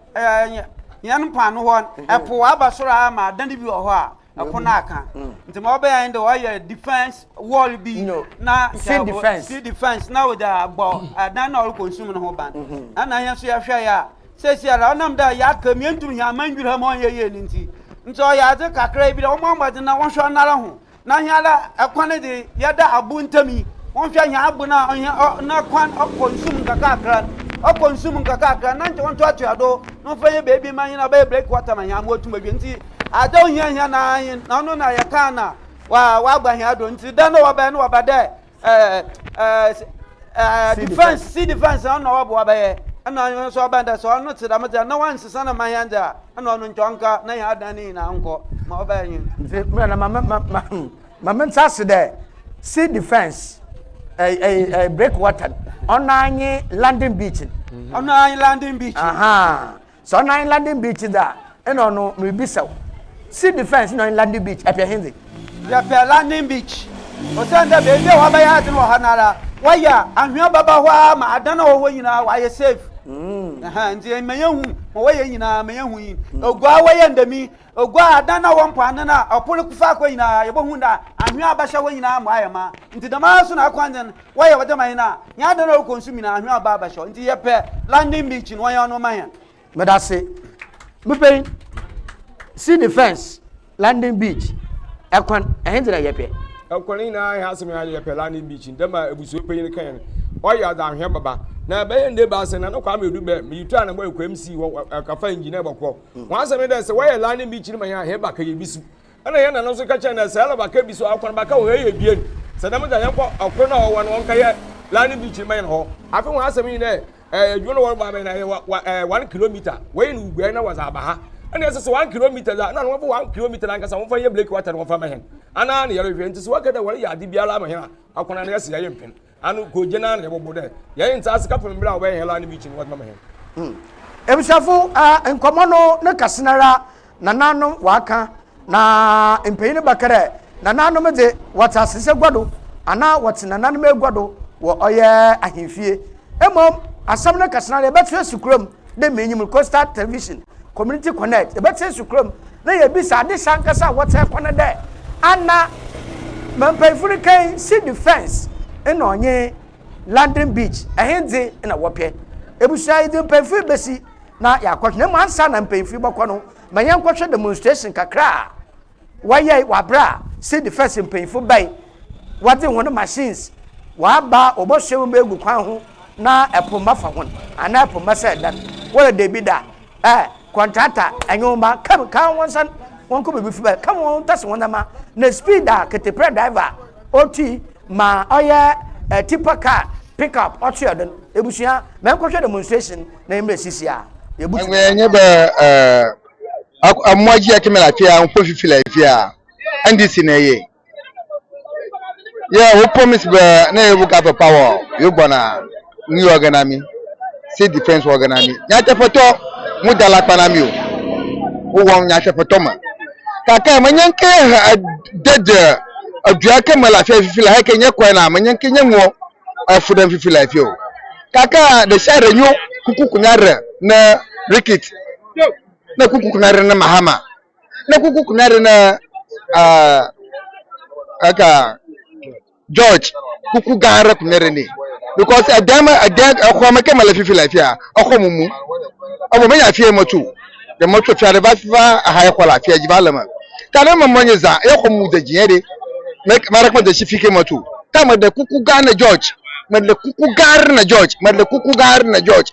yɛn mpaano hɔ ɛpo aba soro a ma adan bi wɔ hɔ a ɛpo no aka nti ma ɔbɛyɛ yɛn dɛ ɔyɛ defense wall bi na sea defense sea defense na ɔde abɔ adan na ɔrekɔ nsum no ho ban ɛna yɛn nso yɛhwɛ yɛ a sɛsi ara ɔnam dɛ yɛaka mientum hɛn aman dwira mu ɔnyɛ yie no nti nti ɔyɛ adze kakra bi dɛ wɔn amɔdze na wɔhwɛ ɔnara ho na hɛn ara kwan no dze yɛda abo ntamu yi, wɔnhwɛ hɛn abo no a hɛn n'akwan ɔkɔ nsu mu nkakrankra no, ɔkɔ nsu mu nkakrankra na nkyɛ wɔntoatoa do na wɔmfa hɛn beebi ma hɛn ɔbɛyɛ break water ma hɛn ama oetum edwe. Ntsi adze a ohia hɛn ara nye no, na ɔno na yɛkaa no a ɔaba hɛn do. Ntsi dɛn na wɔbɛyɛ? No wɔba dɛ ɛɛ ɛɛ ɛɛ defence si defence na ɔna ɔboa bɛyɛ ɛna ɔno nso ɔbɛn dɛ sɛ ɔno te dɛm dze a na wansesa na ma hɛn dze a ɛna ɔno nkyɛn ɔnka na hɛn adan ne nyinaa nkɔ ma ɔbɛyɛ nye. nti mmerɛ na ma ma ma ma hmm, ma me nsa ase dɛ si defence ɛɛ ɛɛ ɛɛ breakwater ɔna nye london beach. ɔna nye london beach. Sɛ ɔno ayi landing beach dze a, nna ɔno miribisa wo. Sea Defence nna ɔnye landing beach, ɛpɛ hendze? Yɛpɛ landing beach osiandɛ beebi a wɔabɛyɛ adze no wɔ ha noara, wɔayɛ a anhwea bɛba hɔ ara ma adan a ɔwɔ hɔ nyina wɔayɛ safe. Ntsi ma yenhu ma wɔyɛ nyina ma yenhu yi. Oguaa wɔyɛ ndɛm yi Oguaa adan na ɔwɔ mpoano na ɔpon no faakor nyina yebohun dɛ anhwea a abɛhyɛ hɔ nyina mu ayɛ mã. Ntsi dɛmara so na akwanzen wɔyɛ wɔ dɛm ahen a hɛn adan a orokɔ nsu mu nyina anhwea ɔba abɛhyɛ hɔ. Ntsi yɛpɛ London Beach no, wɔnyɛ ɔno mma hɛn. Medase. Mupei. See the fence, London Beach, kwan, hɛn dze na yɛpɛ. Kwan nyina hɛn asɛm nye yɛpɛ London Beach no, dɛm a ebusua panyin no kae no. Ɔyɛ ɔdze anhwea bɛba. Na bɛyɛ nda ebiasa no, na no Kwame Edu bɛ, miyi tour a na mowɔ Ekuemsi hɔ, kafa engineer bɔkɔ. Ho asɛm ne dɛ, sɛ wɔyɛ laa ne mbikyir ma hɛn a, hɛn baka yɛ bi so. Nna hɛn nananom so ka kyerɛ hɛn dɛ, sɛ yɛla baka bi so a, ɔkwan baka wɔ hɔ, yɛyɛ ebien. Sɛ dɛm dze a, yɛnkɔ kor no a ɔwɔ no, ɔnkɛyɛ laa ne mbikyir mma hɛn hɔ. Afei ho asɛm nye dɛ, edwuma no wɔrobɔ abɛn na yɛwɔ one kilometre, woeyi no guai na wɔdze aba ha. Nna yɛsesa one kilometre dze a, nna wɔmfa one kilometre nankasa wɔmfa nyɛ blake water no wɔmfa mma hɛn. Ana na yɛrohwɛ, ntsi sɛ wɔka dɛ wɔreyɛ adze biara ama hɛn a, akwan a na yɛse yɛyɛ mpen. Ano kogyina na yɛbɔbɔ dɛ yɛn nsa ase kɛpem ber a wɔbɛyɛ hɛn line meeting no wɔdze bɛma hɛn. Hmm. Ebusuafo, eh, nkɔmbɔ no ne kɛse noara na nãnom wɔakã, na mpanyin no bɛkã dɛ, Nãnom dze, wɔtse asese egua do, anaa wɔtse nãnom egua do wɔ ɔyɛ ahemfie. Mbom asɛm no kɛse noara yɛbɛtwe esi kura mu. dɛ m'enyim no coastal television community connect yɛbɛtsen so kurom na yɛbisa ade hyɛ ankasa a wɔtsɛn kɔ no dɛ ana mampanyinfo no kan si defence na ɔnye london beach ɛhendze na wɔpɛ ebusua yɛdze mpanyinfo yi besi na yɛakɔhwɛ na mbom ansa na mpanyinfo yi bɔkɔ no ma yɛnkɔhwɛ demonstration kakra a wɔyɛe wɔ aber a City First mpanyimfo bae, wɔdze hɔn machines wɔaba a wɔbɔsoa hɔn egu kwan ho na po mma fa hɔn anaa po mma sɛɛ dan. Wɔdɛ dabi da, ɛ, kɔntrata nye wo mba, ka ka hɔn nsan wɔnkɔ beebi fi ba, ka hɔn wɔntase hɔn ndzɛmba, na speed a ketepra driver a otui ma ɔyɛ ɛ tipper car, pick up ɔtse yɛ don. Ebusua, menkɔhwɛ demonstration na mbrɛ sisi a yebutu. Ɔnnyɛ dɛ Amoa ji akeme la fia nkpo fifi la fia ndc na eye yeah wo promise be na ye buka for power yo gbona ni oganami si defense wo oganami nya te foto mu dala kpanami o wo won nya te foto ma kaka ma nya nke ha dead adua akeme la fia fifi la heke nye kwa na ma nya nke nye ngo afudem fifi la fia o kaka de share nyo kuku kunya re na rikit na kuku kuna re ne mahama na kuku kuna re ne uh, aka george kuku gan re kuna re ne because ɛdɛm ɛdɛm ɛkɔ ma kɛmɛ la fifi la fi a ɔkɔ mu mu ɔbɔ mɛ nya fie mɔtu de mɔtu fia de va va aha ɛkɔ la fia dzi va lɛ ma ta ne mɔ mɔ nye zan ɛkɔ mu de dzi de mɛ ma re kɔ de si fi kɛ mɔtu ta mɛ de kuku gan ne george mɛ de kuku gan re ne george mɛ de kuku gan re ne george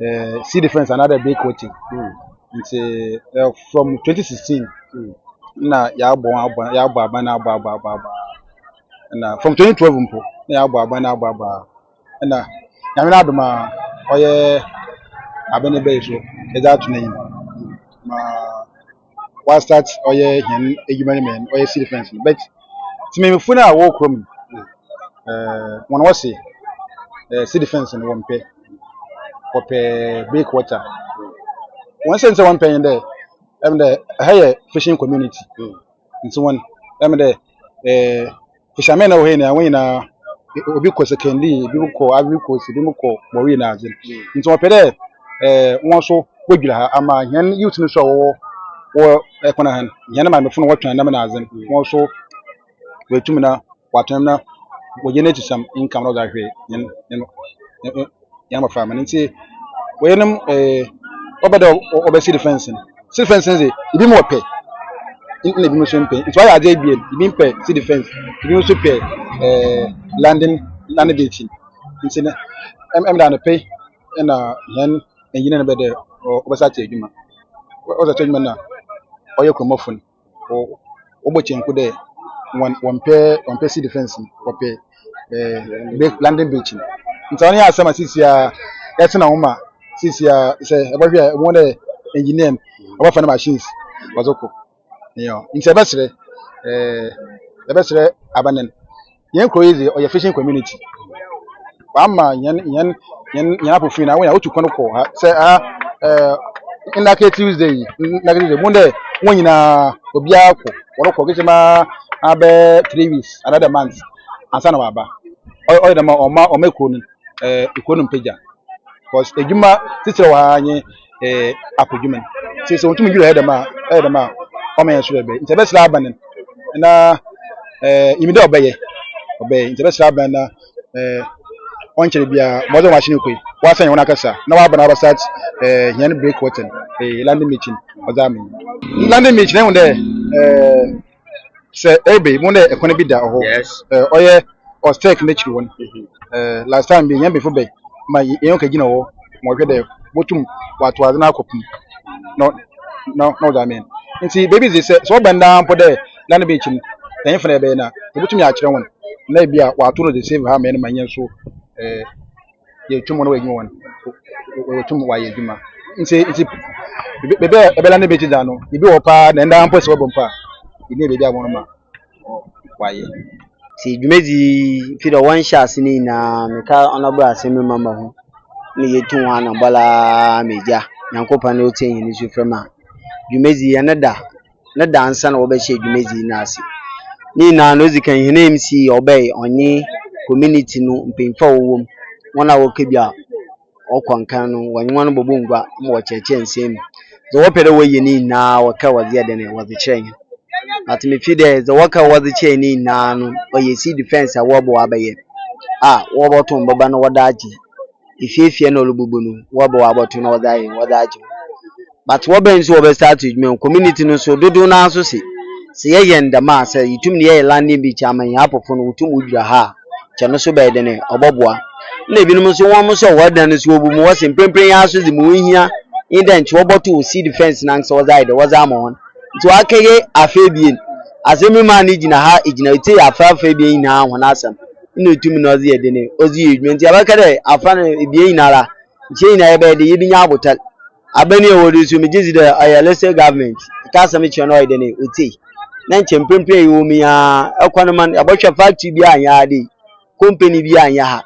uh, see the fence another day coaching mm. nti uh, from 2016 mm. na yɛabɔ abɔ yɛabɔ aba na abɔ abɔ abɔ aba na from 2012 mpo na yɛabɔ aba na abɔ aba na nyame no adom a ɔyɛ abɛne bɛyi so ɛdze ato n'enyim ma wa start ɔyɛ hɛn edwuma no mu hɛn ɔyɛ civil defence no but tsemammufo no a wɔwɔ kurom no ɛɛ wɔn wɔse ɛɛ civil defence no wɔmpɛ wɔpɛ break water wɔn sɛ nsɛ wɔmpɛ yɛn dɛ ɛm dɛ ɛha yɛ fishing community nti wɔn ɛm dɛ ɛɛ. Osiame na ɔhei na wɔn nyinaa obi kɔ sekɛndi ebi mo kɔ Ivory Coast ebi mo kɔ bɔwii na adze nti wɔpɛ dɛ ɛɛ wɔn nso wɔdwira ha ama hɛn youth no nso a wɔwɔ wɔ ɛkwan ha no hɛn maamefo no wɔtɔn nam na adze no wɔn nso wɔatum na wɔatɔn na wɔgye n'ekyisɛm income na wɔdze ahwɛ hɛn hɛn yɛn abɔfra ma no nti wɔyɛnom eh, wɔbɛ dɛ wɔbɛsi de fɛnse no si de fɛnse no dze ebi mu wɔpɛ na ebi mu nso mpɛ nti wɔayɛ adze ebien ebi mpɛ si de fɛnse ebi nso pɛ eh, landing landing gate no nti no ɛm ɛm da no pɛ na hɛn engineer no bɛ dɛ wɔbɛsa akyɛ adwuma wɔbɛsa akyɛ adwuma na ɔyɛ kuromɔfo no. wɔ wɔbɔ kyenku dɛ wɔn wɔmpɛ wɔmpɛ civil defence no wɔpɛ ɛɛ London Bridge no nti ɔno yɛ asɛm a sisi a ɛte na wɔn ma sisi a sɛ ɛbɛhwɛ a wɔn dɛ engineer no ɔbɛfa ne machines ɔdze kɔ ɛyɛ nti ɛbɛsrɛ ɛɛ ɛbɛsrɛ abanɛn. yɛn kuro yi dze ɔyɛ fishing community wama yɛn yɛn yɛn yɛn apofin na wɔn a wotu kwan kɔ ha sɛ ha ɛɛ nnake tuesday yi nnake tuesday mu dɛ wɔn nyinaa obiara kɔ wɔrekɔ kete ma abɛ three weeks another month ansa na waba ɔyɛ dɛm a ɔma ɔma kuro no eh, ekuro no mpagya because edwuma titire wɔ ha nye eh, akɔdwuma no nti sɛ wɔtumi dwiri ɛyɛ dɛm a ɛyɛ dɛm a ɔma yɛn soro ɛbɛyɛ nti ɛbɛsrɛ aba no na eh, yɛmi dɛ ɔbɛyɛ ɔbɛyɛ nti ɛbɛsrɛ aba no na eh, ɔnkyerɛ biara mɔdze wɔn ahyɛn kɔ yi wɔasan yɛn wɔn akasa na wɔaba na wɔaba start eh, yɛn break wɔtɛn eh, landing meeting ɔdze ama yi landing meeting ɛhu dɛ eh, sɛ ɛbɛ mu na ɛkwan bi da hɔ Yes. ɛɛ ɔyɛ ɔstɛk n'akyiri hɔ no Mhm. ɛɛ last time bi yɛn bɛfo bɛ ma yɛ- yɛn ka gyina hɔ ma ɔhwɛ dɛ botum wato adze no akɔ pum na ɔ- na ɔ- na ɔdze amɛn nti baabi dze sɛ sɛ ɔbɛn daa mpo dɛ na ne bɛnkyi no ɛnyɛ fa na yɛbɛyɛ no a yɛbɛtumi akyerɛ hɔn na ebi a wɔato no dze save ha amɛn ma yɛn so ɛɛ yɛtum wɔn na wɔyɛ adwuma wɔn wɔtum wɔayɛ adwuma nti nti bebe a ɛbɛla ne bɛgye da no ebi wɔ paa na ɛnda mpo sɛ wɔbɔ mpo a ebi yɛ baabi a wɔn ma wɔayɛ nti dwumadzi fi dɛ wɔnhyɛ ase no nyinaa meka ɔnabra asɛm no mama ho na yɛtu ho anabɔla megya nyankopɔn na ɔtie hene su frɛ ma dwumadzi yɛne da ne da ansa na wɔbɛhyɛ dwumadzi no ase. Ne nyinara no, odzi kan hɛn MC ɔbɛyɛ ɔnye community no mpanyimfo a wɔwɔ mu, hɔn a wokedua ɔkɔ nkan no, wɔnye hɔn bɔbɔ ngua ma wɔkyerɛkyerɛ nsɛm mu. Dza wɔpɛ dɛ wɔyɛ ne nyinara wɔkaa wɔdze yɛ dɛn, wɔdze kyerɛɛ hɛn. But me feel dɛ dza wɔkaa wɔdze kyerɛɛ hɛn nyinara no ɔyɛ civil defence a wɔbɔ abɛyɛ a wɔbɔto mboba na wɔdze agye. efie fie na ɔlɔbubu no wɔbɔ abɔto na ɔdze ayɛ ɔdze agye wo but wɔ bɛn so wɔbɛ start edwuma mu community no so dodow naa so se se yɛ yɛ no dɛm a sɛ yetum ne yɛ yɛ landing beach ama hɛn apofo no wotum wodwira ha a kyɛ no so bɛyɛ dɛn ɛ ɔbɔboa na ebinom so wɔn so wɔ dan no so wɔbu mu wɔse mprempren yi ara so dze mu ohia nye dɛ nkyɛ wɔbɔto wɔ seed fence no ankasa wɔdze ayɛ dɛ wɔdze ama hɔn nti wɔakɛyɛ afa ebien asɛm yi maa no gyina ha gyina etse yɛ afra afra ebien nyinaa hɔn asɛm. na otum na ɔdze yɛ dɛ no ɔdze yɛ edwuma ntsi abɛka dɛ afora no ebien nyinara nkyɛ nyina yɛbɛyɛ dɛ yebenya abotar. Aber no yɛwɔ do yi so megye dzi dɛ ɔyɛ Lester Government ka asɛm kyerɛ no ɔyɛ dɛn otsie na nkyɛ mprɛmprɛ yɛwɔ mu yi ara kɔ no man yɛbɔhwɛ factory biara nnyɛ ha dɛ yi company biara nnyɛ ha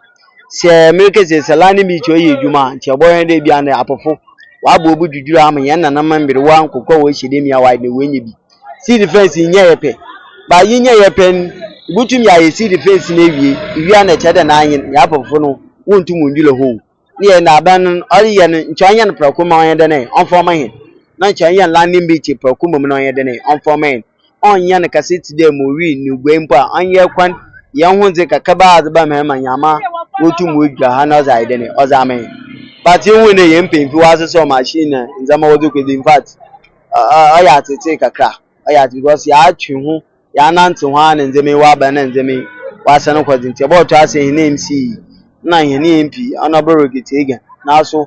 sɛ merekɛsɛ sɛ London Beach ɔyɛ edwuma a nkyɛ yɛbɔhwɛ dɛ bi a ndɛ apofo wɔabɔ obu dwudwura ama hɛn nananom mberwa nkokɔ a wɔhyɛ dɛm yi a wɔayɛ dɛn woenya bi. civil defence nyɛ yɛ pɛ ba yi nyɛ yɛ pɛ no ibutum yɛ ayɛ civil defence no awie iwie a na ɛkyɛ dɛ na anyen yɛabɔfo no wontum ndwula hɔ o ne yɛ na aban no ɔreyɛ no nkyɛ ɔnyɛ no prɛko ma ɔnyɛ dɛn ɛ ɔmfa ɔma hɛn na nkyɛ ɔnyɛ no landing beach prɛko mmom na ɔnyɛ dɛn ɛ ɔmfa ɔma hɛn ɔnyɛ no kɛse tse dɛ Moree ne Guai mpo a ɔnyɛ kwan yɛn ho dze kakraba a ɔdze ba ma hɛn ma Nyama wotum wodwira ha na ɔdze ayɛ dɛn ɛ ɔdze ama hɛn but yehu dɛ hɛn mpanyimfo wɔasesa ɔmachine na ndzɛmba wɔdze kɔ dze infact ɔyɛ atsetse kakra, ɔyɛ atsetse because yɛatwe ho, yɛanantsew ho ara na ndzɛmba yi wɔaba na ndzɛmba yi wɔasan kɔ dze ntsi yɛbɔtɔ ase hɛn MC yi na hɛn MP, Honourable Ricky Teagan, naaso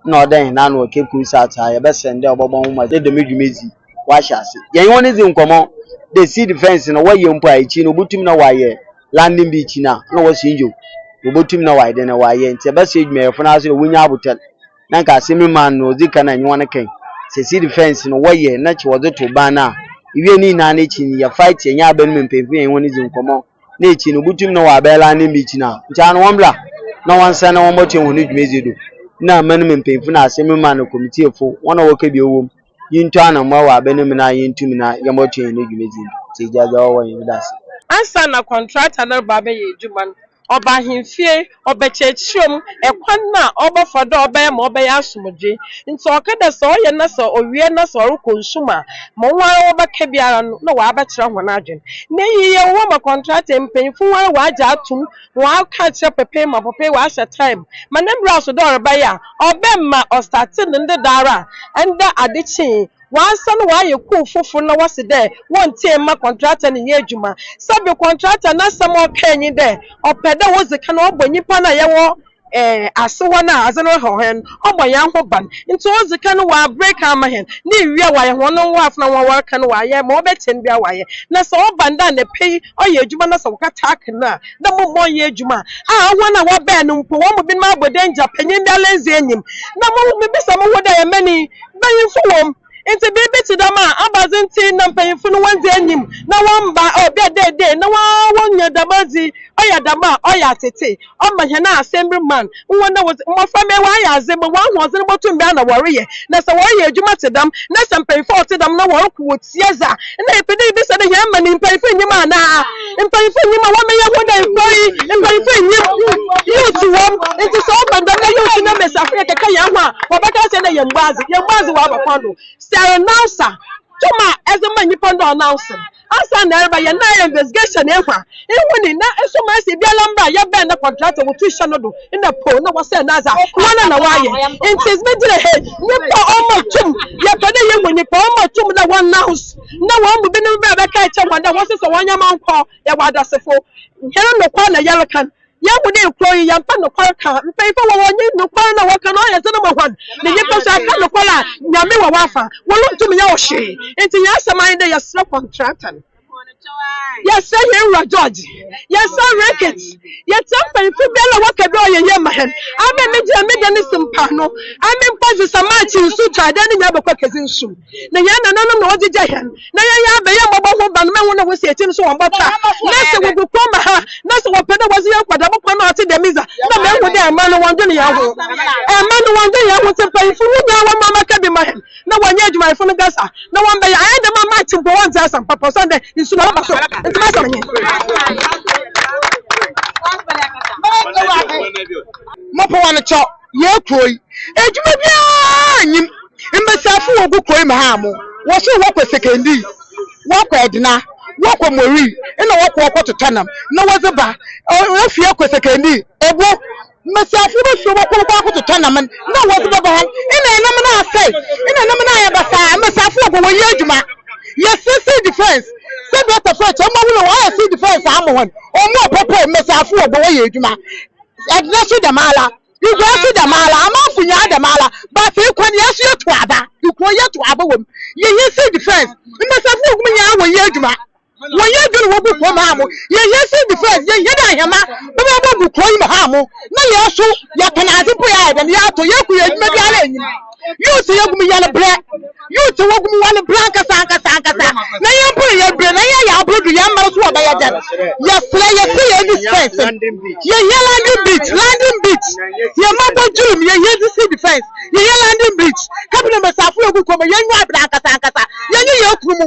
nna ɔwɔ dɛ hɛn ano wɔ Cape Coast South ha, yɛbɛserɛ no dɛ ɔbɔbɔ ho mbɔdzen dɛ dɛm dwumadzi yi wɔahyɛ ase. Yɛnye hɔn dzi nkɔmbɔ dɛ seed defence no wɔyɛ mpo a ekyir no wobotum na wɔayɛ landing beach no a nna ɔwɔ Sinjo, wobotum na wɔayɛ dɛn wɔayɛ ntsi yɛbɛserɛ edwumayɛfo no ara so dɛ wonnya abotar. na nka asɛm yi maa no ɔdzi kan a nyewa no kɛn. Sɛ si defence no wɔyɛ na kyɛ wɔdze to ban no a, iwie ne nyina no ekyir no yɛ fight yɛnye aban mu mpanyimfo yɛnye hɔn dzi nkɔmbɔ na ekyir no botum na wɔaaba London Beach no a nkyɛ ano wɔmbra na wɔnsan na wɔmbɔtoa hɔn dwumadzi do na aman mu mpanyimfo na asɛm yi maa no kɔmitiefo hɔn a wɔka bi ɔwɔ mu yintɔ anamboa wɔ aban mu na yentum na yɛmbɔtoa hɛn dwumadzi do ntsi egya dza ɔwɔ hɔ yɛmeda ase. Ansaana kɔntrata no reba abɛyɛ edwuma no, ɔba ahemfie, ɔbɛkyerɛkyerɛ mu kwan no a ɔbɛfa do a ɔbɛyɛ ma ɔbɛyɛ asomdwee. Ntsi ɔka dɛ sɛ ɔyɛ na sɛ owie na sɛ ɔrokɔ nsu mu a, ma woara wɔbɛka biara no nna ɔabɛkyerɛ hɔn adwen. Na iyi yɛ nwanwa ma kɔntratee mpanyimfo woara wɔagye ato mu, wɔaka akyerɛ Popeye ma Popeye ɔahyɛ tae mu ma ne bra so dɛ ɔrebɛyɛ a, ɔbɛma ɔstartee no ndɛ daara a ndɛ adze kyee. Wɔasan wɔayɛ kuw fofor na wɔse dɛ wɔnntsie mma kɔntratɛ no nnyɛ edwuma. Sɛbe kɔntratɛ n'asɛm a ɔkae nye dɛ ɔpɛ dɛ odzi kan ɔbɔ nyimpa no a yɛwɔ ase hɔ no a adze no haw hɛn no, ɔbɔ hɛn ho ban. Ntsi odzi kan no ɔabrek ama hɛn, na ewie a ɔayɛ hɔn nwoafo na hɔn a wɔaka no wɔayɛ ma ɔbɛtsen biara wɔayɛ. Na sɛ ɔba ndɛ anapa yi ɔyɛ edwuma na sɛ wɔkata aka no a, dɛ mma ɔnnyɛ edwuma a hɔn a wɔbaa no mpo hɔn mu binom abɔ dangya, panyin biara nndzi enyim. Na mibisa moho dɛ, Yɛmba ni? Mpanyimfo wɔ mu, ntsi biribi tse dɛm a, abadze ntsi na mpanyimfo no wonndzi enyim na wɔmmba obi a dɛ dɛn na wonnya dɛm adze yi. Ɔyɛ dɛm a, ɔyɛ atsetse, ɔma hɛn asɛmbir man woho na wɔdze mbofra mma wɔayɛ adze mbrɛ hɔn ahoɔdzen botum biara na wɔreyɛ, na sɛ wɔreyɛ edwuma tse dɛm na sɛ mpanyimfo a wɔtse dɛm na wɔroko wɔ Sieza, Nna yɛpɛ dɛ yebisa dɛ hɛn man mpanyimfo nnyim anaa? Mpanyimfo nnyim a wɔmmeyɛ hɔn enkwai? Mpanyimfo nnyim, youths wɔ mu, ntsi sɛ ɔba dɛm na youths na mbasiafo yɛkɛkɛ hɛn ho a, wɔbɛka akyerɛ dɛ yɛmmbɔ adze, yɛmmbɔ adze wɔ abakwan do. Sɛ renouncer, tum a edze ma nyimpa no dɛ ɔnounce no, ansaana erebɛyɛ no nna ayɛ investigation ehu a, Ihu ni, na eso ma esi biara mbra a yɛbɛn na kɔntrakt a wɔtu hyɛ no do nna poo na wɔsɛɛ no adze a, woana na wɔayɛ? Ntsi edze begyina ha yi, nyimpa a ɔma tum, yɛpɛ dɛ yehu nyimpa a ɔma tum dɛ wɔannounce na hɔn mu binom ba a bɛka akyerɛ hɔn dɛ wɔnsesa hɔn ndzɛmba nkɔ. Yɛwɔ adasefo, hɛn nokwar na yɛreka no. Yehu dɛ nkurow yi, yɛmmpɛ nokwar kã. Mpanyimfo wɔ hɔ a nye nokwar na wɔka no ɔyɛ dzen ma hɔn, na nyimpa so aka nokwar a, Nyame wɔ w'afã, worunntum nnyɛ hɔ hwee. Ntsi hɛn asɛm ara nye dɛ yɛserɛ kɔntrakt no. Yɛsɛ hɛn Wura George, yɛsɛ Rickett, yɛsɛ mpanyimfo biara a wɔaka dɛ ɔyɛ yie ma hɛn. Amen, megye a meda no si mpaano. Amen, mpa dze sa March nsu taa dɛ ne nyina bɔkɔ akedzi nsu. Na hɛn nananom na wɔgyegya hɛn, na yɛyɛ aba, yɛ mbɔbɔ ho ban, mma hɔn na wosi ekyir no so wɔmmbɔ ta. Na sɛ wɔgu kwan ma ha, na sɛ wɔpɛ dɛ wɔdze hɛn kɔ dɛm kwan no a ɔtse dɛm dze a, na mehu dɛ mma no wɔndwen hɛn ho. Mma no wɔndwen hɛn ho ntsi mpanyimfo, hom nyina wɔmba mbɛka bi mma hɛn. na wɔnyɛ adwumayɛfo no gas a, na wɔbɛyɛ. Ayɛ dɛm a Matt mpo wɔnntse asɛm papa osiandɛ nsu na ɔreba sor, ntsi m'asɛm nye. Mopon ano kyɔ yɛɛ kurow yi, edwuma biara nnyim, mbasiafo wɔ gu kurow yi mu haa mo, wɔ sor wɔkɔ Sekondi, wɔkɔ Edna, wɔkɔ Moree, nna wɔkɔ hɔ kɔtotɔ nam na wɔdze ba, ofi hɔ kɔ Sekondi, Obo. Mbasiafo bosua wɔ kuw kor akototɔ nam na wɔdze bɛba hɔ. Nna nam no asɛe. Nna nam no ayɛ basaa. Mbasiafo wɔ kɔ wɔyɛ edwuma. Yɛsɛ sea defence. Sɛ Dɔkta Fred kyerɛ, mbowa horow wɔayɛ sea defence ama hɔn. Wɔmma ɔpopo. Mbasiafo wɔ kɔ wɔyɛ edwuma. Edna so dɛmara. Igua so dɛmara. Amamfo nyina dɛmara. But ekwan, hɛn so yɛtow aba. Ekurow yɛtow aba wɔ mu. Yɛnyɛ sea defence. Mbasiafo wɔ kɔ mu nyina wɔyɛ edwuma. Wɔn yɛ adwene wɔ gu kurom ha mo. Yɛn yɛ si defense, yɛn yɛ dɛ ahɛma bɛbɛ bɔ gu kuro yi mu ha mo. Na yɛn so yɛ tɔn adze mpo yɛ ayɛ dɛm, yɛ atɔ, yɛ ku yɛ adwuma bi ara nnim. Youths yɛ gu mu yɛ no brɛ, youths wɔ gu mu wɔ no brɛ ankasa ankasa ankasa. Na yɛn mpo yɛ brɛ, na yɛn yɛ aboro do, yɛn mma no so wɔ bɛ yɛ dɛm. Yɛ serɛ, yɛ se yɛn di spence, yɛ yɛ landing beach, landing beach, yɛn mma bɔ dwere mu, yɛ yɛ di si defense, yɛ yɛ landing beach. Cabinet mɛsafo yɛ gu kuro mu, yɛn nyɛ abena ankasa ankasa, yɛn yɛ yɛn kuru mu.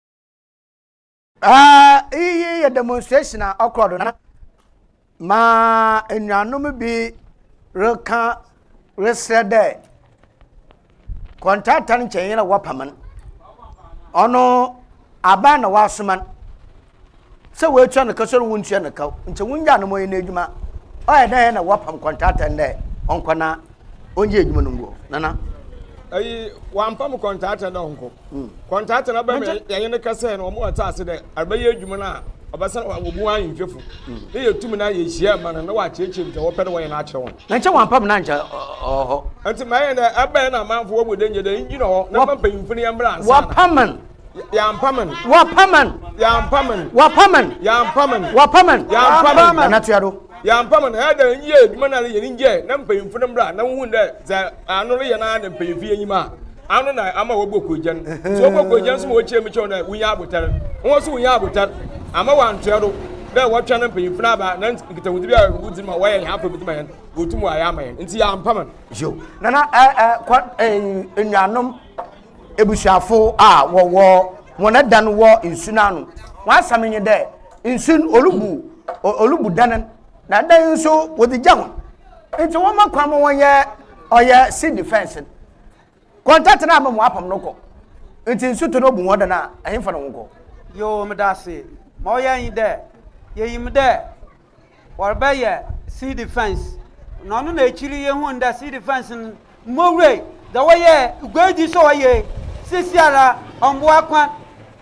Uh, iyi yɛ demonstration a ɔkɔ do na ma enuanom bi reka resrɛ dɛ kɔntrata no nkyɛn yɛn na wɔpam no ɔno aban na wɔasoma no Sɛ woetua no ka so na wonntua no ka o, nkyɛ wongyaa no ma ɔnyɛ n'edwuma. Ɔyɛ dɛ hɛn na wɔapam kɔntrata no dɛ ɔnkɔ na ɔngye edwuma no ngu hɔ. Nana. Eyi, wɔammpam kɔntrata no dɛ ɔnkɔ. Hmm. Kɔntrata no aba mu yɛnye no kɛsɛe no, wɔma ɔtse ase dɛ arbɛyɛ edwuma no a, ɔbɛsan ɔaabɔ mu ara nye nhwɛfo. Hmm. Ne yeetum no ara yehyia ma no na ɔaakyerɛkyerɛ mu dza wɔpɛ dɛ wɔyɛ no akyerɛ hɔn. Na nkyɛ wɔammpam no a nkyɛ ɔwɔ hɔ. Ntsi ma yɛnyɛ dɛ, ebɛn na amamfo wɔ mu dɛ nnyɛ dɛ, ngyina hɔ na mma mpanyimfo no yɛ mbra ansaana. Wɔpam no. Yampaman. Wapaman. Yampaman. Wapaman. Yampaman. Wapaman. Yampaman. Nana Tuado. Yampaman ɛyɛ dɛ n yɛ adwuma na yɛ ne ngyɛ na mpanyinfo no mmra na wohu dɛ dza ano no yɛ na na mpanyinfo yɛ enyim a ano na ama wɔbɔ kogyan nti wɔbɔ kogyan nso ma wɔkyerɛ mu kyɛw dɛ wonya abotar wɔn nso wonya abotar ama wɔantoa do dɛ wɔtwɛn no mpanyinfo no aba na nkitahodzi bi a wodzi ma wɔyɛ hɛn afɔrbɔdzi ma hɛn wɔtum wɔayɛ ama hɛn nti yɛampaman. Nana ɛɛ kɔ ɛɛ nnuanom. ebusuafo a wɔwɔ hɔn adan wɔ nsu no ano. Hɔn asɛm nye dɛ, nsu no olubu olubu dan no, na dan no so wɔdze gya hɔn. Ntsi wɔma kwan ma wɔyɛ ɔyɛ sea defence no. Kɔntaat no ama wɔapam no kɔ. Ntsi nsu tɔ na obu hɔn dan a, hɛnfa na hɔn kɔ? Yoo, meda ase. Ma ɔyɛ nye dɛ, yenyim dɛ Wɔrebɛyɛ sea defence na ɔno na akyiri yɛhun dɛ sea defence no mbowurai dɛ wɔyɛ guadi so wɔyɛ sisiara ɔmboa kwan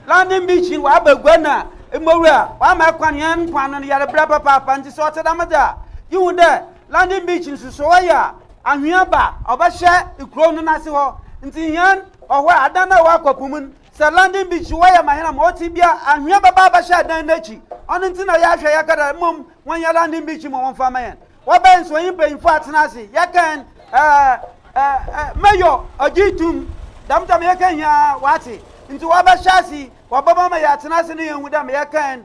landing beach no wɔaba gua na mbowura wɔama kwan hɛn mpoano no yɛrebrɛ papaapa ntsi sɛ ɔtse dɛm dze a yɛhu dɛ landing beach no so so wɔyɛ a anhwea ba ɔbɛhyɛ kurow no n'ase hɔ ntsi hɛn ɔhɔ a adan a ɔwɔ akɔpum no Sɛ London bi kyi wɔyɛ ma hena ma ɔte bia anhwea bɛba abɛhyɛ ɛdan no akyi ɔno nti na yɛahwɛ yɛka dɛ mmom wɔnyɛ London bi kyi ma wɔmfa ma yɛn wɔbɛn nso ɔnye mpanyimfo atena ase yɛkɛn ɛɛ mayor ɔgye tum dɛm tam yɛkɛn nyinaa wate nti wɔbɛhyɛ ase wɔbɛma ma yɛatena ase ne yɛahu dɛ ma yɛkɛn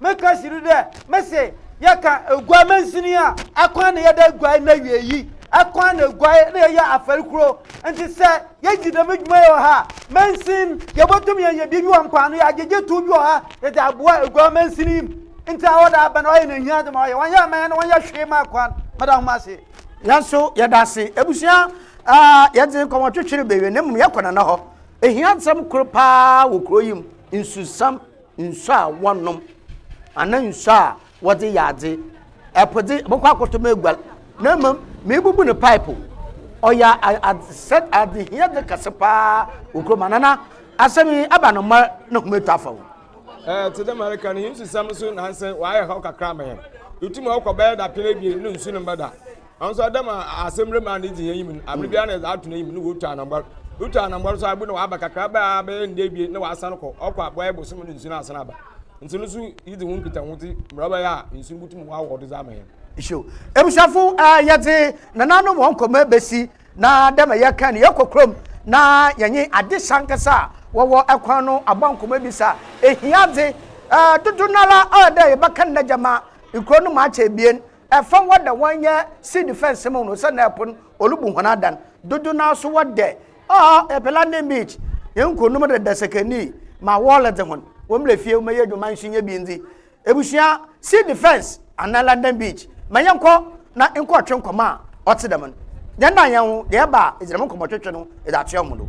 Meka kyerɛ wo dɛ, mese, yɛka eguai mansin yi a, akwan na yɛda eguai n'awiei, akwan na eguai na yɛyɛ afɛr kor. Ntsi sɛ yedzi dɛm edwuma yi wɔ ha a, mansin, yebotum yenya biribi wɔ mpoano, yɛagyegye tow bi wɔ ha yɛdze aboa eguai mansin yi mu. Ntsi aɔda aaba na ɔayɛ n'ehiadze ma ɔayɛ. Wɔnnyɛɛ mɛn no, wɔnnyɛɛ hwee mmaa kwan. Meda hom ase. Hɛn so yɛda ase. Ebusua, yɛdze nkɔmbɔtwetwe rebewie na mbom yɛkɔ Nana hɔ. Ehiadsɛm kor paa wɔ kurow yi mu, nsusam. nsu a wɔnom anaa nsu a wɔdze yɛ adze ɛpo dze bɛkɔ akɔtɔ mu agual na mmom mebubu no pipe ɔyɛ adesɛ adehia dze kɛse paa wɔ kurom anana asɛm yi aba no mma na hom atu afa ho. ɛɛ te dɛ mareka no hinsusɛm nso nanse wɔayɛ haw kakra ma yɛn etum ɔkɔ bɛyɛ dapɛn abien no nsu no mbɛda. Nanso Adam a asɛmmerɛ maa ne dzi hɛn yi mu no, aber biara na yɛdze ato n'enyim no na otu anambɔr. Otu anambɔr so a, bi na ɔaba kakraba a bɛyɛ nda ebien na ɔasan kɔ, ɔkɔ a bɔyɛ bosoom na nsu no asan aba. Ntsi no so yedzi ho nkitaho dze mbrɛ ɔbɛyɛ a nsu no botum wɔawɔw do dze ama hɛn. Nhyira o. Ebusuafo, yɛdze nananom hɔn kɔma besi, na dɛ ma yɛkãe no, yɛkɔ kurom na yɛnye adesua ankasa a wɔwɔ kwan no abɔ nkɔmbɔ ebisa ehiadze. Dodow noara ɔyɛ dɛ yɛbɛkan n'agyama nkurow no mu akyɛ ebien, Fa hɔn dɛ wɔnyɛ sea defence mu no sɛ na po no olubu hɔn adan. Dodow no ara so wɔdɛ ɔɔ yɛpɛ landing beach, yɛnnkɔ no mu dɛ dasakani ma wɔɔlɛ dze hɔn. Wɔmbrɛ fie wɔmɛyɛ edwuma nso nyɛ bi ndze ebusua sea defence anaa landing beach ma yɛnkɔ na nkɔɔtwe nkɔmbɔ a ɔtse dɛm no. Yɛndan hɛnho dɛ yɛba a edze dɛm nkɔmbɔtwetwe no edze atoa hɔn do.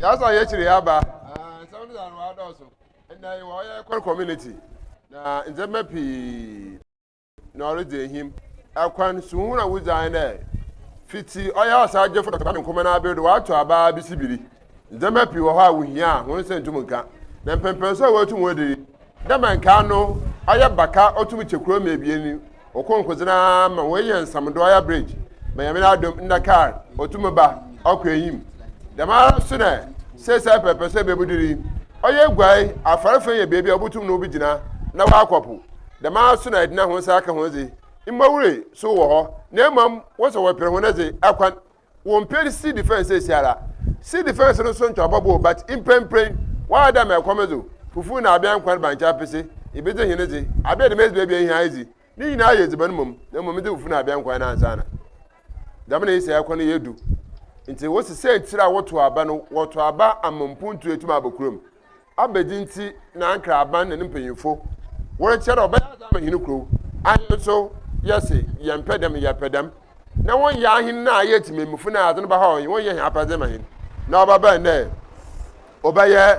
yasa yɛ kyerɛ yɛ aba nsɛm no ano adɔɔso ɛnna yɛ wɔyɛ kɔr community na ndzɛmba pii na ɔredzi ehim. Kwan suhu na wodzi anye dɛ, fitsi ɔyɛ Ɔsaagyefo Dɔkta Kwame Nkrumah n'aber do wɔato aba ara besi biri. Ndzɛmba pii wɔ hɔ a wohia a hɔn nsa nntum nnka, na mpɛnpɛn so a woetum woedzi dɛ ma nkaa no ɔyɛ baka otum kyɛ kor ma ebien, okonkodze no ara ma woenya nsamdo ɔyɛ bridge ma Nyame n'adom nna kaar otum ba ɔkɔ enyim. Dɛmara so na sesei pɛrpɛso a bebudur yi ɔyɛ eguai, afɔrfã yɛ beebi a obotum na obogyina na ɔakɔ po Dɛm ara so na edina hɔn nsa aka hɔn dze, mma wure so wɔ hɔ, na mbom wɔn sɛ wɔreper hɔn dze akwan. Wɔmmper civil defence seseiara. Civil defence no so ntoabɔ bɔɔ but mprenpren wɔayɛ dɛ ama ɛkɔm edzo fufuw na abea nkwan bankye apese, ibedze hene dze, abea dɛm edziban bi a ihia edzi, ne nyina ayɛ edziban mom, na mom edze fufuw na abea nkwan no ansaana. Dɛm na yesei akwan no yɛ du. Ntsi wose siantsir a wɔtow aba no wɔtow aba ama mpontu etum abɔ kurom. Abedi nti na Ankara aban ne ne mpanyimfo wɔrekyia dɛ ɔbɛyɛ adze ama hɛn kurow. Ahen so, yɛse yɛmmpɛ dɛm, yɛpɛ dɛm. Na wɔnnyɛ ahen no a ayɛ tsimemmufo na adze no bɛhaw hɛn, wɔnnyɛ hɛn apɛdze mma hɛn. Na ɔbɛba ndɛ, ɔbɛyɛ.